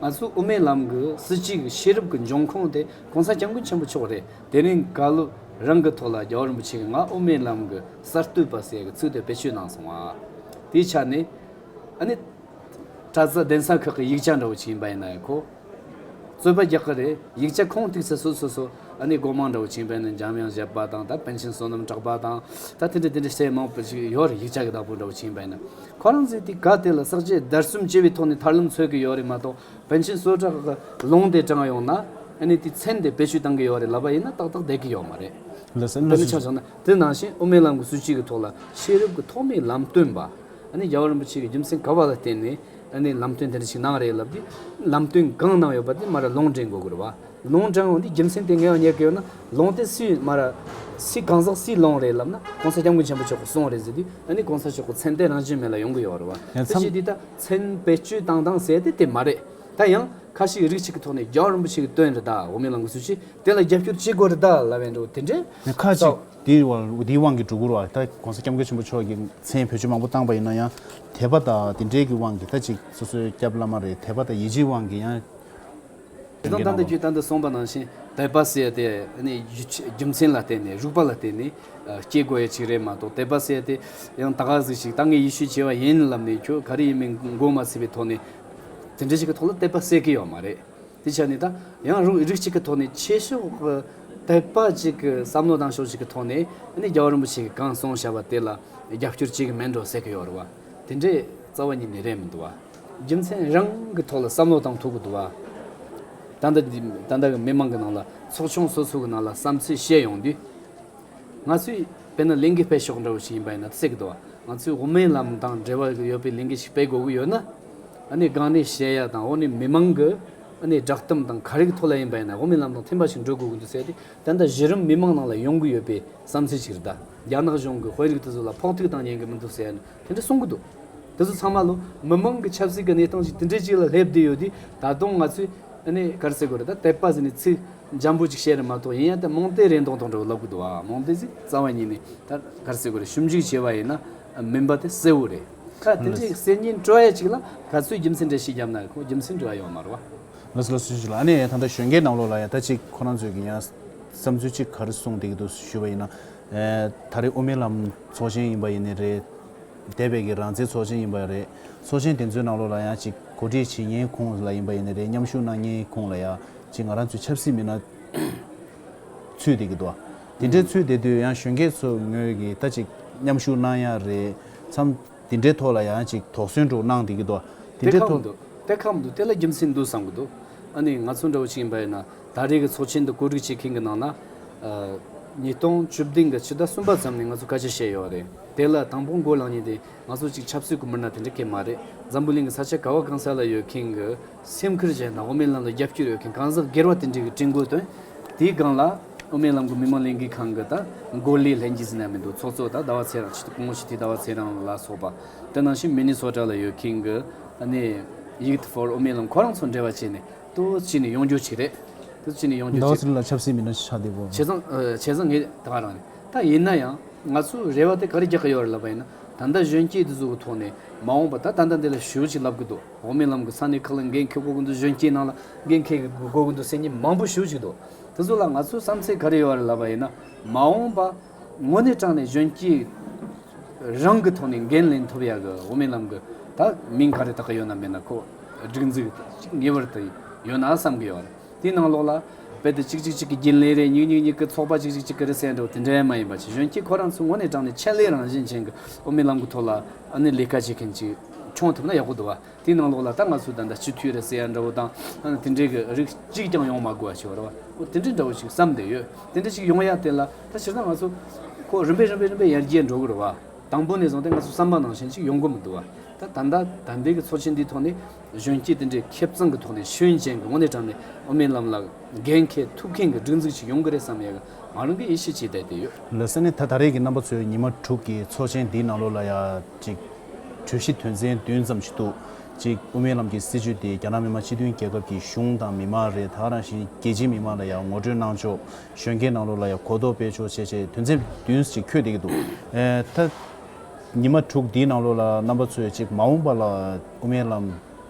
ང་ཚོ་དབུ་མའི་ལམ་གྱི་སྲིད་སྤྱི་གྱི་ཤེས་རབ་ཀྱི་འབྱུང་ཁུངས་དེ་གོང་ས་སྐྱབས་མགོན་ཆེན་པོ་མཆོག་རེད། དེ་རིང་བཀའ་སློབ་རང་གི་ཐོག་ལ་རྒྱ་བོད་རིན་པོ་ཆེ་གི་ང་དབུ་མའི་ལམ་གི་གསར་གཏོད་པ་ཟེར་གི་ཚུལ་དུ་བེད་སྤྱོད་གནང་སོང་བ། དེའི་ཆ་ནས། ཨ་ནི། པྲ་ཙཱ་གདན་ས་ཁག་གི་ཡིག་ཆ་འདྲ་བོ་ཞིག་ཡིན་པ་ཡིན་ན་ཡང་ཁོ། རྩོད་པ་རྒྱག་གི་རེད། ཡིག་ཆ་ཁོང་བཏུས་ཚེ་སོ་སོ་སོ་ཨ་ནི་སྒོ་མང་འདྲ་བོ་ཞིག་ཡིན་པ་ཡིན་ན་འཇམ་དབྱངས་བཞད་པ་དང་ད་བན་ཆེན་བསོད་ནམས་གྲགས་པ་དང། ད་དེ་འདྲ་དེ་འདྲ་ཞེས་མང་པོ་ཞིག་ཡོད་རེད་ཡིག་ཆ་གི་བདག་པོ་འདྲ་བོ་ཞིག་ཡིན་པ་ཡིན་ན། ཁོ་རང་ཚོས་དེ་ག་དེ་ལ་བསགས་རྗེས་བརྡར་གསུམ་བྱས་པའི་ཐོག་ནས་ཐར་ལམ་འཚོལ་གི་ཡོད་རེད་མ་གཏོགས་བན་ཆེན་བསོད་གྲགས་ཀྱི་ལུང་དེ་དྲངས་ཡོང་ན་ཨ་ནི་དེའི་མཚན་དེ་བེད་སྤྱོད་གཏང་གི་ཡོད་རེད་ལབ་པ་ཡིན་ན་ཏག་ཏག་བསྡད་ཀྱི་ཡོད་མ་རེད། དཔེར་ན་ཆ་བཞག་ན་དེ་ནང་བཞིན་དབུ་མའི་ལམ་གྱི་སྲིད་བྱུས་ཀྱི་ཐོག་ལ་ཤེས་རབ་ཀྱི་ཐོག་མའི་ལམ་སྟོན་པ་ཨ་ནི་རྒྱལ་བ་རིན་པོ་ཆེ་ཀྱི་རྒྱུ་མཚན་ག་བ་ལ་བརྟེན་ནས་ཨ་ནི་ལམ་སྟོན་དེ་འདྲ་ཞིག་གནང་རེད་ལབ་དུས་ལམ་སྟོན་གང་གནང་ཡོད་པ་དེ་མ་ར་ལུང་དྲན་དགོས་དགོས་རེད་བ། ལུང་དྲན་འོང་དུས་རྒྱུ་མཚན་དེ་ངེས་བ་ཉེར་དགོས་ཡོད་ན་ལུང་དེ་སུས་མ་ར་སུས་གང་ཟག་སུས་ལོངས་རེད་ལབ་ན་གོང་ས་སྐྱབས་མགོན་ཆེན་པོ་མཆོག་གིས་གསུངས་རེད་ཟེར་དུས་ཨ་ནི་གོང་ས་མཆོག་གི་མཚན་དེ་རང་བྱོན་མེད་ལ་ཡོང་གི་ཡོད་རེད་བ། དེ་བྱས་དུས་ད། མཚན་དཔེ་སྤྱོད་སྟངས་དང་ཟས་དེ་དེ་མ་རེད་ད་ཡང། ཁ་ཞིག་རིགས་གཅིག་གི་ཐོག་ནས་རྒྱའོ་རིན་པོ་ཆེ་གི་སྟོན་རི་དྭགས་འོ་མའི་ལང་གི་ཚུལ་གྱིས་དེ་ལ་རྒྱབ་སྐྱོར་བྱེད་དགོས་རི་དྭགས་ལ་བས་འགྲོ་དེ་འདྲའི་ནས་ཁ་ཅིག་སྟབས། དེའི་བར་དེའི་དབང་གིས་སྒྲོ་སྐུར་བ་ད་གོང་ས་སྐྱབས་མགོན་ཆེན་པོ་མཆོག་གིས་མཚན་བེད་སྤྱོད་མང་པོ་བཏང་པ་ཡིན་ན་ཡང་དད་པ་དང་དེ་འདྲའི་གི་དབང་གིས་ད་ཅིག་སོ་སོའི་སྐྱབས་བླ་མ་རེད་དད་པ་དང་ཡིད་ཆེའི་དབང་གིས་ཡང། དེ་དག་དང་དུ་རྒྱུད་དང་དུ་གསུངས་པ་ནང་བཞིན་དད་པ་བསལ་ཏེ། རྒྱུ་མཚན་ལ་བརྟེན་ནས་རིགས་པ་ལ་བརྟེན་ནས་སྐྱེ་དགོས་ཡ་ཅིག་རེད་མ་གཏོགས་དད་པ་བསལ་ཏེ། ཡང་དག་གཟིགས་ཤིག་ད་ངས་ཡེ་ཤུ་བྱེ་བ་ཡིན་ལབ་ནས་ཁྱོད་ག་རེ་ཡིན་མིན་མགོ་མ་ཚོས་པའི་ཐོག་ནས། དེ་འདྲ་ཞིག་གི་ཐོག་ལ་དད་པ་བསལ་གི་ཡོད་མ་རེད། དེ་ཆ་ནས་ད་ཡང་རང་རིགས་གཅིག་གི་ཐོག་ནས་ཆེ་ཕྱོགས་དད་པ་གཅིག་གི་བསམ་བློ་དང་ཕྱོགས་གཅིག་གི་ཐོག་ནས་རྒྱལ་བ་རིན་པོ་ཆེ་གིས་གང་གསུངས་བྱ་བ་དེ་ལ་རྒྱབ་སྐྱོར་བྱེད་ཀྱི་མིན་འགྲོ་ཟེར་གི་ཡོད་རེད་བ། དེ་འདྲའི་རྩ་བ་ཉིད་ནས་རེད་མི་འདུག་བ། རྒྱུ་མཚན་རང་གི་ཐོག་ལ་བསམ་བློ་བཏང་ཐུབ་དགོས་འདུག་བ། ད་ལྟ་གི་མི་མང་གི་ནང་ལ་ཚོགས་ཆུང་སོ་སོ་གི་ནང་ལ་བསམ་ཚུལ་བཤད་ཡོང་དུས། ང་ཚོས་དཔེར་ན་གླིང་གེ་སྤེལ་ཤོག་འདྲ་བོ་ཞིག་ཡིན་པ་ཡིན་ན་གསལ་གི་འདུག་བ། ང་ཚོས་དབུ་མའི་ལམ་དང་འབྲེལ་བ་ཡོད་པའི་གླིང་གེ་ཞིག་སྤེལ་དགོས་གི་ཡོད་ན། ཨ་ནི་སྒང་ནས་གཞལ་ཡ་དང་འོག་ནས་མི་མང་གི་ཨ་ནི་བསྒྲགས་གཏམ་དང་ག་རེ་གི་ཐོག་ལ་ཡིན་པ་ཡིན་ན་དབུ་མའི་ལམ་དང་མཐུན་པ་ཞིག་འགྲོ་དགོས་གི་འདུག་ཟེར་ཏེ་ད་ལྟ་གཞི་རིམ་མི་མང་ནང་ལ་ཡོང་གི་ཡོད་པའི་བསམ་ཚུལ་ཞིག་རེད་ད། རྒྱ་ནག་གཞུང་གི་དཔོན་རིགས་དེ་ཚོ་ལ་ཕོག་ཐུག་བཏང་ཉན་གི་མི་འདུག་ཟེར་ཡ་ནི་དེ་འདྲ་གསུང་གི་འདུག་དེ་ཚོ་ཚང་མ་ལོ་མི་མང་གི་ཆབ་སྲིད་ཀྱི་གནས་སྟངས་ཅིག་དེ་འདྲའི་ཅིག་ལ་སླེབས་བསྡད་ཡོད་དུས་ད་དུང་ང་ཚོས་ནས་གར་ཟེར་དགོས་རེད་ད་དད་པ་ཟེར་ནས་ཚིག་འཇམ་པོ་ཅིག་བཤད་རེད་མ་གཏོགས་ཡིན་ཡང་དེ་རྨོངས་དད་རེད་མདོག་མདོག་འདྲ་བོ་ལབ་གི་འདུག་ཨ་རྨོངས་དད་ཟིག་རྩ་བ་ཉིད་ནས་ད་གར་ཟེར་དགོས་རེད་ཞུམ་འཇུག་བྱས་པ་ཡིན་ན་མིན་པ་དེ་གསལ་བོ་རེད། ཁ་དེ་འདྲའི་གསེར་རྙིང་བཀྲོ་ཡ་ཅིག་ལ་ག་ཚོད་རྒྱུ་མཚན་འདྲ་ཞིག་བརྒྱབ་ན་ཁོ་རྒྱུ་མཚན་འབྲི་བ་ཡོང་མར་བ། ལ་སུ་ལ་སུ་ཞིག་ལ་ཨ་ནེ་ད་ལྟ་གཞོན་སྐྱེས་རྣམས་ལོག་ལ་ཡ་ད་ཅིག་ཁོ་རང་ཚོས་ཀྱི་ཡང་བསམ་ཚུལ་ཅིག་གར་གསུང་བསྡད་ཀྱི་འདུག་ཞུས་པ་ཡིན་ན་ད་རེས་དབུ་མའི་ལམ་ཚོགས་ཆེན་ཡིན་པ་ཡིན་ནི་རེད། འདས་པའི་གི་རང་བཙན་ཚོགས་ཆེན་ཡིན་པ་རེད། ཚོགས་ཆེན་དེ་ཚོའི་ནང་ལོགས་ལ་ཡང་ཅིག་གོ་སྒྲིག་བྱེད་ཉེའི་ཁུངས་ལ་ཡིན་པ་ཡིན་ནི་རེད་མཉམ་ཞུགས་གནང་ཉེའི་ཁུངས་ལ་ཡང་ཅིག་ང་རང་ཚོའི་ཆབ་སྲིད་མི་སྣ་ཚུད་དེ་གི་འདུག་དེ་འདྲའི་ཚུད་དེ་དུས་ཡང་གཞོན་སྐྱེས་ཚོ་ངོས་ཀྱི་ད་ཅིག་མཉམ་ཞུགས་གནང་ཡ་རེད་མཚམས། དེ་འདྲའི་ཐོག་ལ་ཡང་ཅིག་དོགས་ཟོན་དྲུག་གནང་དེ་གི་དོ། དེ་འདྲའི་ཐོག། དེ་ཁག་མི་འདུག་དེ་ལ་རྒྱུ་མཚན་འདུག་བསམ་གི་འདུག་ཨ་ནི་ང་ཚོ་འདྲ་བོ་ཞིག་ཡིན་པ་ཡིན་ན་ད་རེས་ཀྱི་ཚོགས་ཆེན་འདི་བཀོད་སྒྲིག་བྱེད་མཁན་གྱི་ནང་ན། ཉིས་སྟོང་བཅུ་བདུན་གྱི་ཕྱི་ཟླ་གསུམ་པ་ཙམ་ནས་ང་ཚོས་བཀའ་ཆད་བཤད་ཡོད་རེད་དེ་ལ་དང་པོ་འགོ་ལངས་ཉིན་དེ་ནས་ང་ཚོ་ཅིག་ཆབ་སྲིད་ཀྱི་མི་སྣ་དེ་འདྲ་སྐད་མ་རེད་འཛམ་བུ་གླིང་གི་ས་ཆ་ག་བ་གང་ས་ལ་ཡོད་མཁན་གྱི་སེམས་ཁུར་ཅན་དང་དབུ་མའི་ལམ་ལ་རྒྱབ་སྐྱོར་ཡོད་མཁན་གང་ཟག་སྒེར་བ་དེ་འདྲས་ཀྱི་བཀྲིན་བཀོལ་དོན་དེའི་སྒང་ལ། དབུ་མའི་ལམ་གྱི་མི་མང་ལས་འགུལ་ཁང་གི་ད་མགོ་ལས་ལྷན་རྒྱས་སུ་གནས་མི་འདུག་ཚོགས་གཙོ་དང་ཟླ་བ་ཚེ་རང་ཆེད་དུ་སྐུ་ངོ་ཞི་བདེ་ཟླ་བ་ཚེ་རང་ལ་སོགས་པ་དེ་ནང་བཞིན་མི་ནི་ཚོགས་གྲལ་ལ་ཡོད་མཁན་གྱི་ནི་ཡིག་ཐ་ཕོར་དབུ་མའི་ལམ་ཁོ་རང་ཚོ་འབྲེལ་བ་བྱས་ནས་དུ་ཅི་ནས་ཡོང་རྒྱུ་བྱས་རེད་དུ་ཅི་ནས་ཡོང་རྒྱུ་ཟླ་བ་བྱས། ཚེ་རིང་ལ་ཆབ་སྲིད་མི་སྣ་ཞེས་ཆགས་བསྡད་པོ། བྱས་ཙང་བྱས་ཙང་ངས་ད་རང་ནས་ད་ཡིན་ན་ཡང་ང་ཚོའི་རེ་བ་དེ་ག་རེ་རྒྱག་གི་ཡོད་རེད་ལབ་པ་ཡིན་ན་ད་ལྟ་གཞོན་སྐྱེས་དེ་ཚོ་གི་ཐོག་ནས་མ་འོངས་པ་ད་ད་ལྟ་འདི་ལ་ཞུ་བ་ཅིག་ལབ་ཀྱི་འདུག་འོག་མིན་ལམ་གྱི་ས་གནས་ཁག་ལ་འགན་འཁྱེར་སྒོ་ཀུན་ཏུ་གཞོན་སྐྱེས་རྣམས་ལ་འགན་འཁྱེར་གྱི་སྒོ་ཀུན་ཏུ་སེམས་ཉིད་མང་པོ་ཞུ་བཞིན་འདུག་དེ་ཚོ་ལ་ང་ཚོའི་བསམ་ཚེ་ག་རེ་ཡོད་རེད་ལབ་པ་ཡིན་ན། མ་འོངས་པ་དངོས་གནས་དྲང་ནས་གཞོན་སྐྱེས་རང་གི་ཐོག་ནས་འགན་ལེན་ཐུབ་ཡག་གི་འོག་མིན་ལམ་གྱི་ད་མིང་ག་རེ་དག་ཡོད་ན་མེད་ན་ཁོག་སྒྲིག་འཛུགས་ཅིག་ངེས་པར་དུ་ཡོད་ན་བསམ་གི་ཡོད་རེད་དེའི་ནང་ལོགས་ལ་རྦད་དེ་ཅིག་ཅིག་ཅིག་གི་རྒྱུན་ལས་རེད་ཉིག་ཉིག་ཉིག་གི་ཚོགས་པ་ཅིག་ཅིག་ཅིག་གི་རེད་བསད་འགྲོ་དེ་འདྲའི་མ་ཡིན་པ་ཆེད་གཞོན་སྐྱེས་ཁོ་རང་ཚོ་དངོས་གནས་དྲང་ནས་ཆེད་ལས་རང་བཞིན་ཅན་གྱི་འོག་མིན་ལམ་གྱི་ཐོག་ལ་ཨ་ནི་ལས་ཀ་བྱེད་མཁན་ཅིག། འཁྱོངས་ཐུབ་ན་ཡག་པོ་འདུག་བ། དེའི་ནང་ལོགས་ལ་ད་ང་ཚོའི་ད་ལྟ་སྤྱི་འཐུས་རེད་ཟེར་ཡ་འདྲ་བོ་དང། དེ་འདྲའི་གི་རིགས་གཅིག་ཀྱང་ཡོང་མ་དགོས་བ་ཞིག་བ་རེད་བ། དེ་འདྲའི་འདྲ་བོ་ཞིག་བསམ་བསྡད་ཡོད། དེ་འདྲ་ཞིག་ཡོང་ཡ་དེ་ལ་ད་ཕྱིར་ད་ང་ཚོ། ཁོ་རིམ་པས་རིམ་པས་རིམ་པས་ཡར་རྒྱས་འགྲོ་གི་རེད་བ། དང་པོ་ནས་བཟུང་སྟེ་ང་ཚོ་བསམ་པ་ནང་བཞིན་ཞིག་ཡོང་གི་མི་འདུག་བ། ད་ད་ལྟ་ད་ལྟའི་གི་ཚོགས་ཆེན་འདིའི་ཐོག་ནས། གཞོན་སྐྱེས་དེ་འདྲའི་ཁེབས་གཙང་གི་ཐོག་ནས་ཤུན་ཅན་གི་དངོས་གནས་དྲང་ནས་ཨོ་མིན་ལམ་ལགས། རྒན་མཁས་ཐུབ་མཁན་གི་སྒྲིག་འཛུགས་ཞིག་ཡོང་གི་རེད་བསམ་ཡ་གི་ང་རང་གི་ཡིད་ཆེས་བྱས་བསྡད་དེ་ཡོད། ལོས་ཟེར་ནས་ད་ད་རེས་གི་རྣམ་པ་ཚོས་ཉི་མ་དྲུག་གི་ཚོགས་ཆེན་འདིའི་ནང་ལོགས་ལ་ཡ། གཅིག། གྲོས་གཞི་དོན་ཚན་བདུན་ཙམ་ཞིག་འདུག་གཅིག། དབུ་མའི་ལམ་གྱི་སྲིད་བྱུས་དེ་རྒྱ་ནག་མི་དམངས་སྤྱི་མཐུན་རྒྱལ་ཁབ་ཀྱི་གཞུང་དང་མི་མང་རེ་དྭགས་རང་བཞིན་རྒྱལ་སྤྱིའི་མི་མང་ལ་ཡང་ངོ་སྤྲོད་གནང་ཆོག་གཞོན་སྐྱེས་ནང་ལོགས་ལ་ཡང་གོ་རྟོགས་སྤེལ་ཆོག་བྱས་བྱས་དོན་ཚན་བདུན་ཅིག་འཁྱོལ་བསྡད་ཀྱི་འདུག་ད། ཉི་མ་དྲུག་འདིའི་ནང་ལོགས་ལ་རྣམ་པ་ཚོས་གཅིག་མ་འོངས་པ་ལ་དབུ་མའི་ལམ།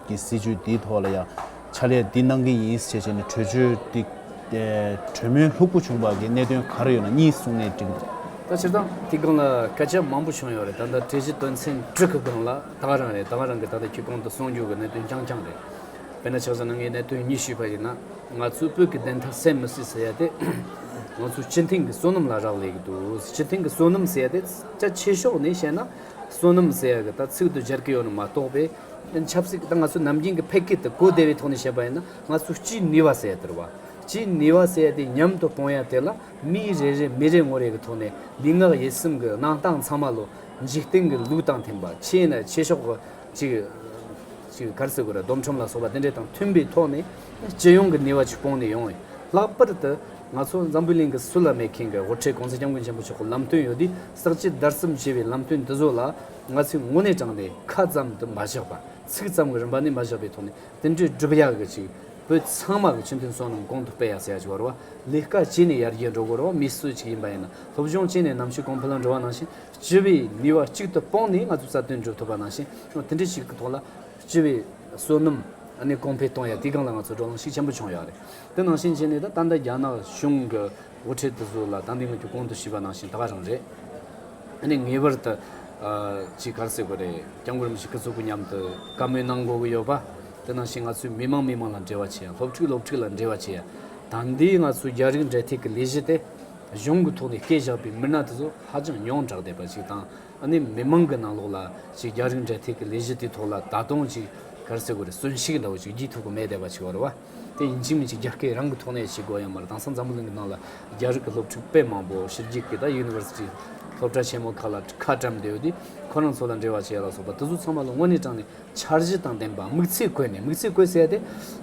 ཀྱི་སྲིད་ཇུས་འདིའི་ཐོག་ལ་ཡང་ཕྱག་ལས་འདི་གནང་གི་ཡིན་ཞེས་བྱས་ནས་གྲོས་ཆོད་འདི་གྲོས་མོལ་ལྷུག་པོ་བྱུང་བར་གྱི་གནད་དོན་ག་རེ་ཡོད་ན་གཉིས་གསུངས་ནས་འགྲིག་འདུག། ད་ཕྱིར་དང་དེའི་སྒང་ལ་སྐད་ཆ་མང་པོ་བྱུང་ཡོད་རེད་ད་ལྟ་གྲོས་གཞི་དོན་ཚན་དྲུག་གི་སྒང་ལ་ད་ག་རང་རེད་ད་ག་རང་གི་ད་ལྟ་ཁྱེད་གོང་དུ་གསུངས་རྒྱུ་གི་གནད་དོན་རྐྱང་རྐྱང་རེད། དཔེར་ན་ཆ་ས་ན་ངས་གནད་དོན་གཉིས་ཞུས་པ་ཡིན་ན་ང་ཚོའི་བོད་ཀྱི་བདེན་མཐའ་གསལ་མི་སྲིད་ཟེར་ཡ་དེ་ང་ཚོའི་སྤྱི་མཐིང་གི་བསོད་ནམས་ལ་རག་ལས་ཀྱི་འདུག་སྤྱི་མཐིང་གི་བསོད་ནམས་ཟེར་ཡ་དེ་རྩ་ཆེ་ཕྱོགས་ནས་བཤད་ན་བསོད་ནམས་ཟེར་ཡ་གི་ད་ཚིག་ཏུ་སྦྱར་གྱི་ཡོད་ན་མ་གཏོགས་པའི་ཆབ་སྲིད་དང་ང་ཚོ་ནམ་རྒྱུན་གྱི་ཕལ་སྐད་དུ་གོ་བདེ་བའི་ཐོག་ནས་བཤད་པ་ཡིན་ན་ང་ཚོ་སྤྱིའི་ནུས་བ་ཟེར་དོར་བ། སྤྱིའི་ནུས་བ་ཟེར་དེ་ཉམས་དུ་གཏོང་ཡ་དེ་ལ་མི་རེ་རེ་མི་རེ་ངོ་རེ་གི་ཐོག་ནས་ལུས་ངག་ཡིད་གསུམ་གྱི་གནང་སྟངས་ཚང་མ་ལོ་འཇིག་རྟེན་གྱི་ལུགས་དང་མཐུན་པ་ཆེས་ན་ཆེས་ཤོག་གི་ཅིག་ཅིག་གར་སེ་གུ་ར་སྡོམ་ཁྲོམ་ལ་སོགས་པ་དེ་འདྲའི་དང་མཐུན་པའི་ཐོག་ནས་སྤྱི་ཡོངས་ཀྱི་ནུས་བ་ཆུ་སྤོང་ནས་ཡོང་ཡིན་ལྷག་པར་དུ་ང་ཚོ་འཛམ་བུའི་གླིང་གི་སུ་ལ་མེད་མཁན་གྱི་དབུ་ཁྲིད་གོང་ས་སྐྱབས་མགོན་ཆེན་པོ་མཆོག་གི་ལམ་སྟོན་ཡོད་དུས་བསགས་སྤྱི་བརྡར་གསུམ་ཞེས་པའི་ལམ་སྟོན་འདི་ཚོ་ལ། ང་ཚོས་ངོ་ནས་དྲངས་ཏེ་ཁ་ཙམ་དུ་མ་བཞག་པར་ཚིག་ཙམ་གྱི་རིམ་པ་ནས་མ་བཞག་པའི་ཐོག་ནས་དེ་འདྲའི་སྒྲུབ་ཡག་གི་ཅིག་བོད་ཚང་མ་གི་ཆུ་འཐུན་སོགས་རྣམས་གོང་དུ་སྤེལ་ཡག་བྱེད་ཡག་ཅིག་བར་བ་ལས་དཀའ་སྤྱད་ནས་ཡར་རྒྱས་འགྲོ་དགོས་ར་བ་མི་སུ་ཅིག་ཡིན་པ་ཡིན་ན་སློབ་སྦྱོང་སྤྱད་ནས་ནམ་ཕྱེད་གོང་ཕུ་ལམ་འགྲོ་བ་ནང་བཞིན་སྤྱི་བའི་ནུས་བ་གཅིག་ཏུ་སྤོང་ནས་ང་ཚོ་རྩ་དོན་སྒྲུབ་ཐུབ་པ་ནང་བཞིན་ཡང་དེ་འདྲའི་ཞིག་གི་ཐོག་ལ་སྤྱི་བའི་བསོད་ནམས་ནི་གོང་འཕེལ་གཏོང་ཡག་དེའི་སྒང་ལ་ང་ཚོ་འགྲོ་ལངས་ཤུགས་ཆེན་པོ་བྱུང་ཡག་རེད་དེ་ནང་བཞིན་བྱས་ནས་ད་ལྟ་འདི་རྒྱ་ནག་གཞུང་གི་དབུ་ཁྲིད་དུ་བཟོས་ལ་ད་འདི་ངོས་ཀྱི་གོང་དུ་བྱིས་པ་ནང་བཞིན་ད་ག་རང་རེད། ཨ་ནི་ངེས་པར་དུ་ཅིག་གར་སེ་དགོས་རེད་སྐྱབས་མགོན་རིན་པོ་ཆེ་སྐུ་གཟུགས་སྐུ་ཉམས་དུ་བཀའ་མོལ་གནང་དགོས་ཀྱི་ཡོད་པ་དེ་ནང་བཞིན་ང་ཚོས་མི་མང་མི་མང་ལ་འབྲེལ་བ་བྱེད་ཡ་སློབ་ཕྲུག་སློབ་ཕྲུག་ལ་འབྲེལ་བ་བྱེད་ཡ་ད་འདི་ང་ཚོའི་རྒྱ་རིགས་འབྲེལ་ཐེག་གི་ལས་གཞི་དེ་གཞུང་གི་ཐོག་ནས་སྐད་བཞག་པའི་མི་སྣ་དེ་ཚོ་ཧ་ཅང་ཡོངས་གྲགས་བསྡད་པ་ཅིག་དང་ཨ་ནི་མི་མང་གི་ནང་ལོགས་ལ་ཅིག་རྒྱ་རིགས་འབྲེལ་ཐེག་གི་ལས་གཞི་དེའི་ཐོག་ལ་ད་དུང་ཅིག་གར་སེ་དགོས་རེད་གསོན་ཤིག་འདྲ་བོ་ཅིག་བགྱིད་ཐུབ་ཀྱི་མེད་བསྡད་པ་ཅིག་བར་བ། དེ་ཡིན་གཅིག་མིན་གཅིག་རྒྱ་སྐད་རང་གི་ཐོག་ནས་བྱེད་དགོས་ཡོད་མར་དྭངས་གཙང་འཛམ་བུ་གླིང་གི་ནང་ལ་རྒྱ་རིགས་ཀྱི་སློབ་ཕྲུག་དཔེ་མང་པོ་ཕྱི་རྒྱལ་གྱི་ད University སློབ་གྲྭ་ཆེན་མོ་ཁག་ལ་ཁ་བཀྲམ་བསྡད་ཡོད་དེ་ཁོ་རང་ཚོ་ལ་འབྲེལ་བ་བྱས་ལ་སོགས་པ་དེ་ཚོ་ཚང་མ་ལ་དངོས་གནས་དྲངས་ནས་འཆར་གཞི་དང་ལྡན་པ་དམིགས་ཚད་བཀོད་ནས་དམིགས་ཚད་བཀོད་ཚད་དེ་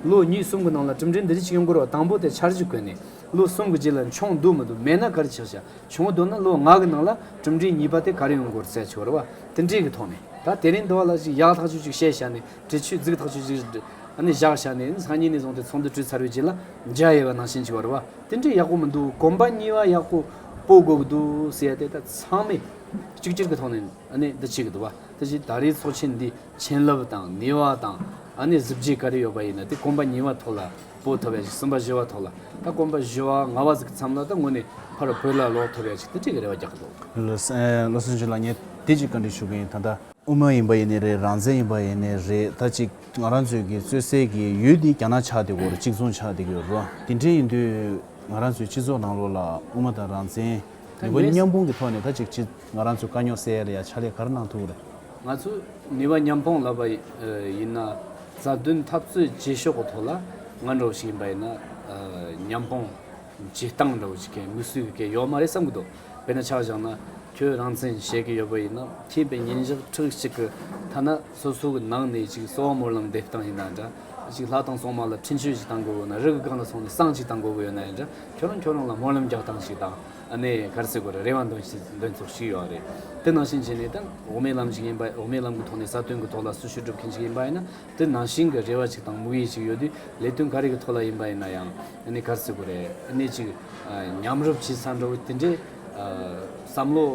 ལོ་གཉིས་གསུམ་གྱི་ནང་ལ་གྲུབ་འབྲས་འདི་འདྲ་ཆགས་ཀྱང་འགོར་བ་དང་པོ་དེ་འཆར་གཞི་བཀོད་ནས་ལོ་གསུམ་གྱི་རྗེས་ལ་མཆོངས་འདུག་མི་འདུག་མེད་ན་གར་ཆགས་བྱ་བྱུང་བ་འདུག་ན་ལོ་ལྔ་གི་ནང་ལ་གྲུབ་འབྲས་གཉིས་པ་དེ་གར་ཡོང་འགོར་ཚད་འཆོར་བ་དེ་འདྲའི་གི་ཐོག་ནས་ད་དེ་རིང་དུ་བ་ལ་ཅིག་ཡག་ཐག་ཆོད་ཅིག་བཤད་བྱ་ནས་དྲི་ཆུས་བརྫིགས་ཐག་ཆུ་གཅིག་གིས་བྲི། བཞག་བྱ་ནས་ནི་སང་ཉིན་ནས་བཟུང་སྟེ་ཚོང་དུ་བྲུས་ཚར་བའི་རྗེས་ལ་འཇའ་ཡལ་བ་ནང་བཞིན་གྱི་བར་བ། དེ་འདྲའི་ཡག་པོ་མི་འདུག་གོམ་པ་གཉིས་པ་ཡག་པོ་སྤོ་དགོས་འདུག་ཟེར་ཡ་དེ་ལྟ་ཚང་མས་གཅིག་གྱུར་གྱི་ཐོག་ནས་འདི་བྱེད་ཀྱི་འདུག་བ། དེ་བཞིན་ད་རེའི་ཚོགས་ཆེན་འདི་བྱིན་རླབས་དང་ནུས་བ་དང་གཟི་བརྗིད་ག་རེ་ཡོད་པ་ཡིན་ན་དེ་གོམ་པ་གཉིས་པ་ཐོག་ལ་སྤོ་ཐུབ་པ་ཡ་ཅིག་གསུམ་པ་བཞི་བ་ཐོག་ལ་ད་གོམ་པ་བཞི་བ་ལྔ་བ་ཟིག་ཙམ་ལ་ད་ངོ་ནས་ཕར་བོད་ལ་ལོག་ཐུབ་པ་ཡ་ཅིག་དེ་འདྲའི་རེ་བ་རྒྱག་གི་འདུག། བློ་སེང་ལགས་ངས་དེ་གཅིག་བཀའ་འདྲི་ཞུ་གི་ཡིན་ད་ལྟ། དབུ་མ་ཡིན་པ་ཡིན་ནི་རེད་རང་བཙན་ཡིན་པ་ཡིན་ནི་རེད་ད་ཅིག་ང་རང་ཚོས་ཀྱི་རྩོད་སའི་ཀྱི་ཡུལ་ནི་རྒྱ་ནག་ཆགས་དེ་གོ་རེད་གཅིག་མཚུངས་ཆགས་དེ་གི་རོ་དེ་འདྲས་ཡིན་དུས་ང་རང་ཚོའི་སྤྱི་ཚོགས་ནང་ལོགས་ལ་དབུ་མ་དང་རང་བཙན་མི་གོ་མཉམ་སྤུངས་ཀྱི་ཐོག་ནས་ད་ཅིག་ཅི་ང་རང་ཚོས་དཀའ་རྙོག་སེལ་ཡ་ལ་ཡ་ཆ་ལས་གར་གནང་ཐུག་རེད། ང་ཚོས་ནུས་པ་མཉམ་སྤུངས་ལབ་པ་ཡིན་ན་རྩ་དོན་འཐབ་རྩོད་བྱེད་ཤོག་གི་ཐོག་ལ་ང་འདྲ་བོ་ཞིག་ཡིན་པ་ཡིན་ན་མཉམ་སྤུངས་བྱེད་སྟངས་འདྲ་བོ་ཞིག་གི་མི་སུས་ཀྱི་ཡོག་མ་རེད་བསམ་གི་འདུག། དཔེར་ན་ཆ་བཞག་ན། ཁྱོད་རང་བཙན་བཤད་གི་ཡོད་པ་ཡིན་ནམ་ཁྱེད་པའི་ཉིན་ཞག་ཁྲག་གཅིག་གི་ཐ་ན་སོ་སོ་གི་ནང་ནས་ཅིག་གསོ་བ་མོར་ལམ་འདེབས་སྟངས་ཡིན་ན་འདྲ། ཅིག་ལྷ་དང་སྲུང་མ་ལ་འཕྲིན་བཅོལ་ཅིག་བཏང་དགོས་ན་རི་གི་སྒང་ལ་སོང་ནས་སྲང་ཅིག་བཏང་དགོས་གི་ཡོད་ན་ཡང་འདྲ་ཁྱོད་རང་ཁྱོད་རང་ལ་སྨོན་ལམ་རྒྱག་སྟངས་ཤིག་དང་ནས་གར་སེ་གོ་ར་རེ་བ་འདོན་འདོན་ཚོགས་ཤིག་ཡོད་རེད་དེ་ནང་བཞིན་བྱས་ནས་དང་འོག་མའི་ལམ་ཞིག་ཡིན་པ་འོག་མའི་ལམ་གི་ཐོག་ནས་ས་དོན་གི་ཐོག་ལ་སུ་ཞུ་སྒྲུབ་མཁན་ཞིག་ཡིན་པ་ཡིན་ན་དེ་ནང་བཞིན་གྱི་རེ་བ་ཅིག་དང་དམིགས་ཡུལ་ཅིག་ཡོད་དུས་ལས་དོན་ག་རེ་གི་ཐོག་ལ་ཡིན་པ་ཡིན་ན་ཡང་ཨ་ནི་ག་ཚོད་དགོས་རེད་ཨ་ནི་ཅིག་ཉམས་རུབ་བྱས་ཚར་འགྲོ་གི་དེ་འདྲའི་བསམ་བློ་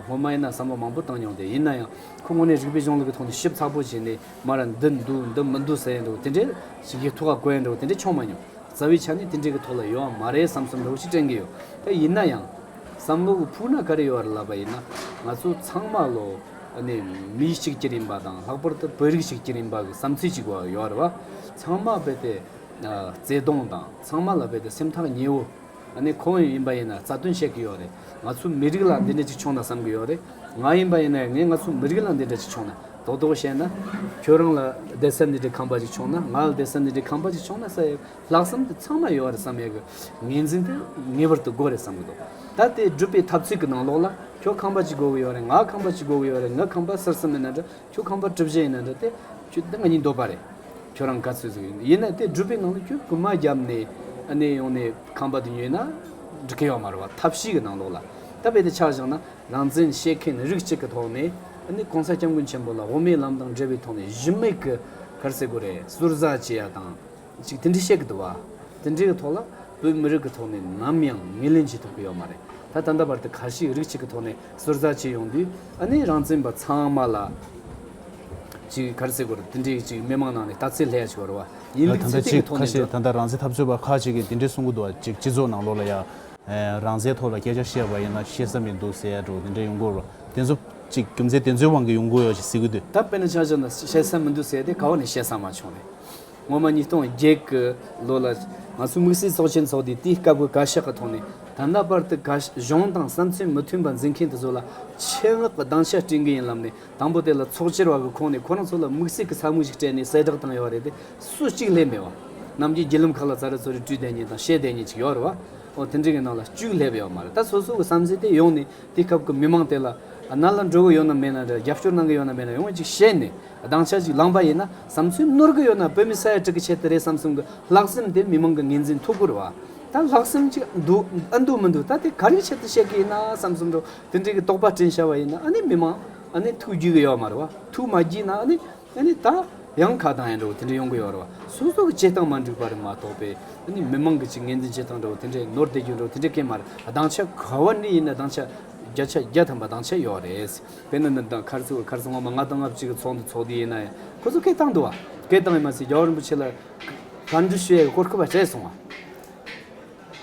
སྔོན་མ་ཡིན་ན་བསམ་བློ་མང་པོ་བཏང་མྱོང་དེ་ཡིན་ན་ཡང་ཁོ་དངོས་གནས་རིགས་པའི་གཞུང་ལུགས་ཀྱི་ཐོག་ནས་ཞིབ་ཚགས་པོ་བྱས་ནས་མར་འདི་འདུག་འདི་མི་འདུག་ཟེར་ཡས་འགྲོ་གི་དེ་འདྲའི་ཞིག་གི་ཐུགས་ཁ་བསྐོན་ཡས་འགྲོ་གི་དེ་འདྲའི་ཆོག་མ་མྱོང་རྩ་བའི་ཆ་ནས་དེ་འདྲའི་གི་ཐོག་ལ་ཡོད་འམ་མ་རེད་བསམ་བསམ་འགྲོ་གི་ཞིག་དྲན་གི་ཡོད་དེ་ཡིན་ན་ཡང་བསམ་བློ་གི་ཕུགས་ན་ག་རེ་ཡོད་རེད་ལབ་པ་ཡིན་ན་ང་ཚོ་ཚང་མ་བློ། ནི་མི་གཅིག་གྱུར་ཡིན་པ་དང་ལྷག་པར་དུ་བོད་རིགས་གཅིག་གྱུར་ཡིན་པ་གི་བསམ་ཚུལ་གཅིག་ཡོད་པ། ཚང་མ་རྦད་དེ་བརྩེ་གདུང་དང་ཚང་མ་ལ་རྦད་དེ་སེམས་ཐག་ཉེ་བོ་ནི་ཁོང་ཡིན་པ་ཡིན་ན་རྩ་དོན་བཤད་གི་ཡོད་རེད་ང་ཚོའི་མི་རིགས་ལ་འདི་འདྲ་ཅིག་བྱུང་ན་བསམ་གི་ཡོད་རེད་ང་ཡིན་པ་ཡིན་ན་ངས་ང་ཚོའི་མི་རིགས་ལ་འདི་འདྲ་ཅིག་བྱུང་ན་རྡོག་རྡོག་བཤད་ན། ཁྱོད་རང་ལ་བདེ་གསལ་འདི་འདྲའི་ཁང་པ་ཅིག་བྱུང་ན་ང་ལ་བདེ་གསལ་འདི་འདྲའི་ཁང་པ་ཅིག་བྱུང་ན་ས་ཡ་ལྷག་བསམ་དེ་ཚང་མར་ཡོད་རེད་བསམ་ཡག་གི། ངེས་འཛིན་དེ་ངེས་པར་དུ་དགོས་རེད་བསམ་གི་འདུག་ད་དེ་སྒྲུབ་པའི་ཐབས་ཚུལ་གྱི་ནང་ལོགས་ལ། ཁྱོད་ཁང་པ་ཅིག་དགོས་གི་ཡོད་རེད་ང་ཁང་པ་ཅིག་དགོས་གི་ཡོད་རེད་ངས་ཁང་པ་གསར་གསུམ་ཡིན་ན་འདྲ་ཁྱོས་ཁང་པ་གྲུ་བཞི་ཡིན་ན་འདྲ་དེ། ཁྱོས་ང་གཉིས་འདོད་པ་རེད། ཁྱོད་རང་ག་ཚོད་ཟིག་ཡིན་ཡིན་ན་དེ་སྒྲུབ་པའི་ནང་ལ་ཁྱོས་རྐུན་མ་བརྒྱབ་ནས་ནས་ཡོང་ནས་ཁང་པ་དེ་ཉོས་ན། འགྲིག་གི་ཡོད་མ་རེད་བ་ཐབས་ཤེས་ཀྱི་ནང་ལོགས་ལ། ད་བེད་དེ་ཆགས་བཞག་ན་རང་བཙན་བཤད་མཁན་རིགས་གཅིག་གི་ཐོག་ནས། གོང་ས་སྐྱབས་མགོན་ཆེན་པོ་ལ་དབུ་མའི་ལམ་དང་འབྲེལ་བའི་ཐོག་ནས་གཞི་མེད་གི་གར་སེ་དགོས་རེད་ཟུར་ཟ་བྱེད་ཡག་དང། ཅིག་དེ་འདྲའི་བཤད་ཀྱི་འདུག་བ། དེ་འདྲའི་གི་ཐོག་ལ་བོད་མི་རིགས་ཀྱི་ཐོག་ནས་ནམ་ཡང་ངེས་ལེན་བྱེད་ཐུབ་ཀྱི་ཡོད་མ་རེད་ད་ད་ལྟ་བར་དུ་ག་ཞིག་རིགས་གཅིག་གི་ཐོག་ནས་ཟུར་ཟ་བྱས་ཡོང་དུས་ཨ་ནི་རང་བཙན་པ་ཚང་མ་ལ་ཅིག་གར་བརྩི་གོར་དེ་འདྲའི་གི་ཅིག་མི་མང་ནང་ནས་ལྟ་ཚེ་ལྷད་ཆེ་བར་བ་ཡིན་མིག་ཚེ་སྟེང་གི་ཐོག་ནས་འགྲོ། ད་ལྟ་ཅིག་ག་ཤེད་ད་ལྟ་རང་བཙན་འཐབ་རྩོད་པ་ཁག་ཅིག་གིས་དེ་འདྲའི་གསུང་གི་འདུག་བ་ཅིག་སྤྱི་ཚོགས་ནང་ལོགས་ལ་ཡང་རང་བཙན་ཐོག་ལ་སྐད་ཆ་བཤད་པ་ཡིན་ན་ཤེས་ས་མི་འདུག་ཟེར་འགྲོ་དེ་འདྲའི་ཡོང་གོར་བ་དེ་ཚོ་ཅིག་རྒྱུ་མཚན་དེ་ཚོའི་དབང་གིས་ཡོང་གི་ཡོད་ཅིག་ཟེར་གྱི་འདུག། ད་དཔེར་ན་ཆ་ཆ་ན་ཤེས་ས་མི་འདུག་ཟེར་དེ་ག་བ་ནས་བཤད་ས་མ་བྱུང་རེད། སྔོན་མ་ཉིས་སྟོང་བརྒྱད་ཀྱི་ལོ་ལ་ང་ཚོའི་དམིགས་བསལ་ཚོགས་ཆེན་ཚོགས་དུས་དེའི་སྐབས་ཀྱི་བཀའ་ཤག་གི་ཐོག་ནས་ད་ལྟ་བར་དུ་གཞུང་དང་བསམ་ཚུལ་མི་མཐུན་པ་འཛིན་མཁན་དེ་ཚོ་ལ་ཆད་མངགས་ཀྱི་སྡང་ཆ་སྤྲིང་གི་ཡིན་ལབ་ནས་དང་པོ་དེ་ལ་ཚོགས་སྤྱིར་བ་གི་ཁོངས་ནས་ཁོ་རང་ཚོ་ལ་དམིགས་བསལ་གྱི་ཚ་དམིགས་ཤིག་སྤྲད་ནས་གསལ་བསྒྲགས་བཏང་ཡོད་བ་རེད་དེ་སུ་གཅིག་ལས་མེད་བ་རྣམས་ཀྱི་བརྒྱུད་ལམ་ཁག་ལ་ཙཱ་རི་ཚོ་རི་བཀྲུས་བསྡད་ཉིན་དང་བཤད་བསྡད་ཉིན་ཅིག་ཡོད་རེད་བ་འོ་དེ་འདྲའི་གི་ནང་ལ་བཅུག་སླེབས་ཡོད་མ་རེད་ད་སོ་སོ་གི་བསམ་ཚུལ་དེ་ཡོང་ནས་དེའི་སྐབས་ཀྱི་མི་མང་དེ་ལ་ན་ལ་འགྲོ་གི་ཡོད་ནམ་མེད་ན་རྒྱབ་སྐྱོར་གནང་གི་ཡོད་ནམ་མེད་ན་ཡོང་བ་ཅིག་བཤད་ནས། སྡང་ཆ་ཞིག་ལངས་པ་ཡིན་ན་བསམ་ཚུལ་བསྣུར་གི་ཡོད་ན་བོད་མི་ས་ཡ་དྲུག་གི་ཆེད་དུ་རེད་བསམ་བསམ་གི་ལྷག་བསམ་དེ་མི་མང་གི་ངེས་འཛིན་ཐུགས་ཁུར་བ་དང་ལྷག་བསམ་ཅིག་འདུག་ཨ་འདུག་མི་འདུག་ད་དེ་ག་རེའི་ཆེད་དུ་བཤད་གི་ཡིན་ན་བསམ་བསམ་འགྲོ་དེ་འདྲའི་གི་དོགས་པ་བཀྲིན་ཤར་བ་ཡིན་ན་ཨ་ནི་མི་མང་ཨ་ནི་ཐུགས་རྒྱུས་གི་ཡོད་མ་རེད་བ་ཐུགས་མ་རྒྱུས་ན་ཨ་ནི་ཨ་ནི་ད་ཡང་ཁ་གདངས་ཡིན་འགྲོ་དེ་འདྲའི་ཡོང་གི་ཡོད་རེད་བ་སོ་སོ་གི་བྱེད་སྟངས་མ་འགྲིག་པ་རེད་མ་གཏོགས་པའི་ཨ་ནི་མི་མང་གི་ཅིག་ངེས་འཛིན་བྱེད་སྟངས་འགྲོ་དེ་འདྲའི་ནོར་བསྡད་རྒྱུ་འགྲོ་དེ་འདྲའི་སྐད་མ་རེད་སྡང་ཆ་ག་བ་འདྲའི་ཡིན་ན་སྡང་ཆ་བརྒྱ་ཆ་བརྒྱ་ཐམ་པ་སྡང་ཆ་ཡོད་རེད། བོད་ནང་ནས་དང་ཁར་ཚུར་ཁར་ཚུར་ངོ་མ་ལྔ་དང་ལྔ་བཅུ་གི་ཚོགས་འདུ་ཚོགས་དུས་ཡིན་ན་ཡང་ཁོ་ཚོ་སྐད་བཏང་འདུག་བ། སྐད་བཏང་ཡས་མ་ཚད་རྒྱ་བོད་རིན་པོ་ཆེ་ལ། གར་འདྲི་ཞུ་ཡས་སྐོར་ཁུ་བ་སྤྲད་སོང་བ།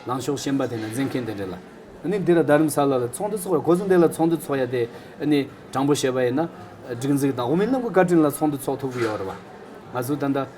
ལང་ཤོག་ཤན་པ་དེ་ན་འཛིན་མཁན་དེ་འདྲས་ལ། ནི་འདི་ལ་རྡ་རིམ་ས་ལ་ལ་ཚོགས་འདུ་ཚོགས་པ་ཁོ་ཚོ་འདི་ལ་ཚོགས་འདུ་ཚོགས་ཡས་དེ་ནི་དྲང་པོ་བཤད་པ་ཡས་ན། སྒྲིག་འཛིག་དང་དབུ་མའི་ལམ་གི་བཀའ་དྲིན་ལ་ཚོགས་འདུ་ཚོགས་ཐུབ་གི་ཡོད་རེད་བ། ང་ཚོ་ད་ལྟ།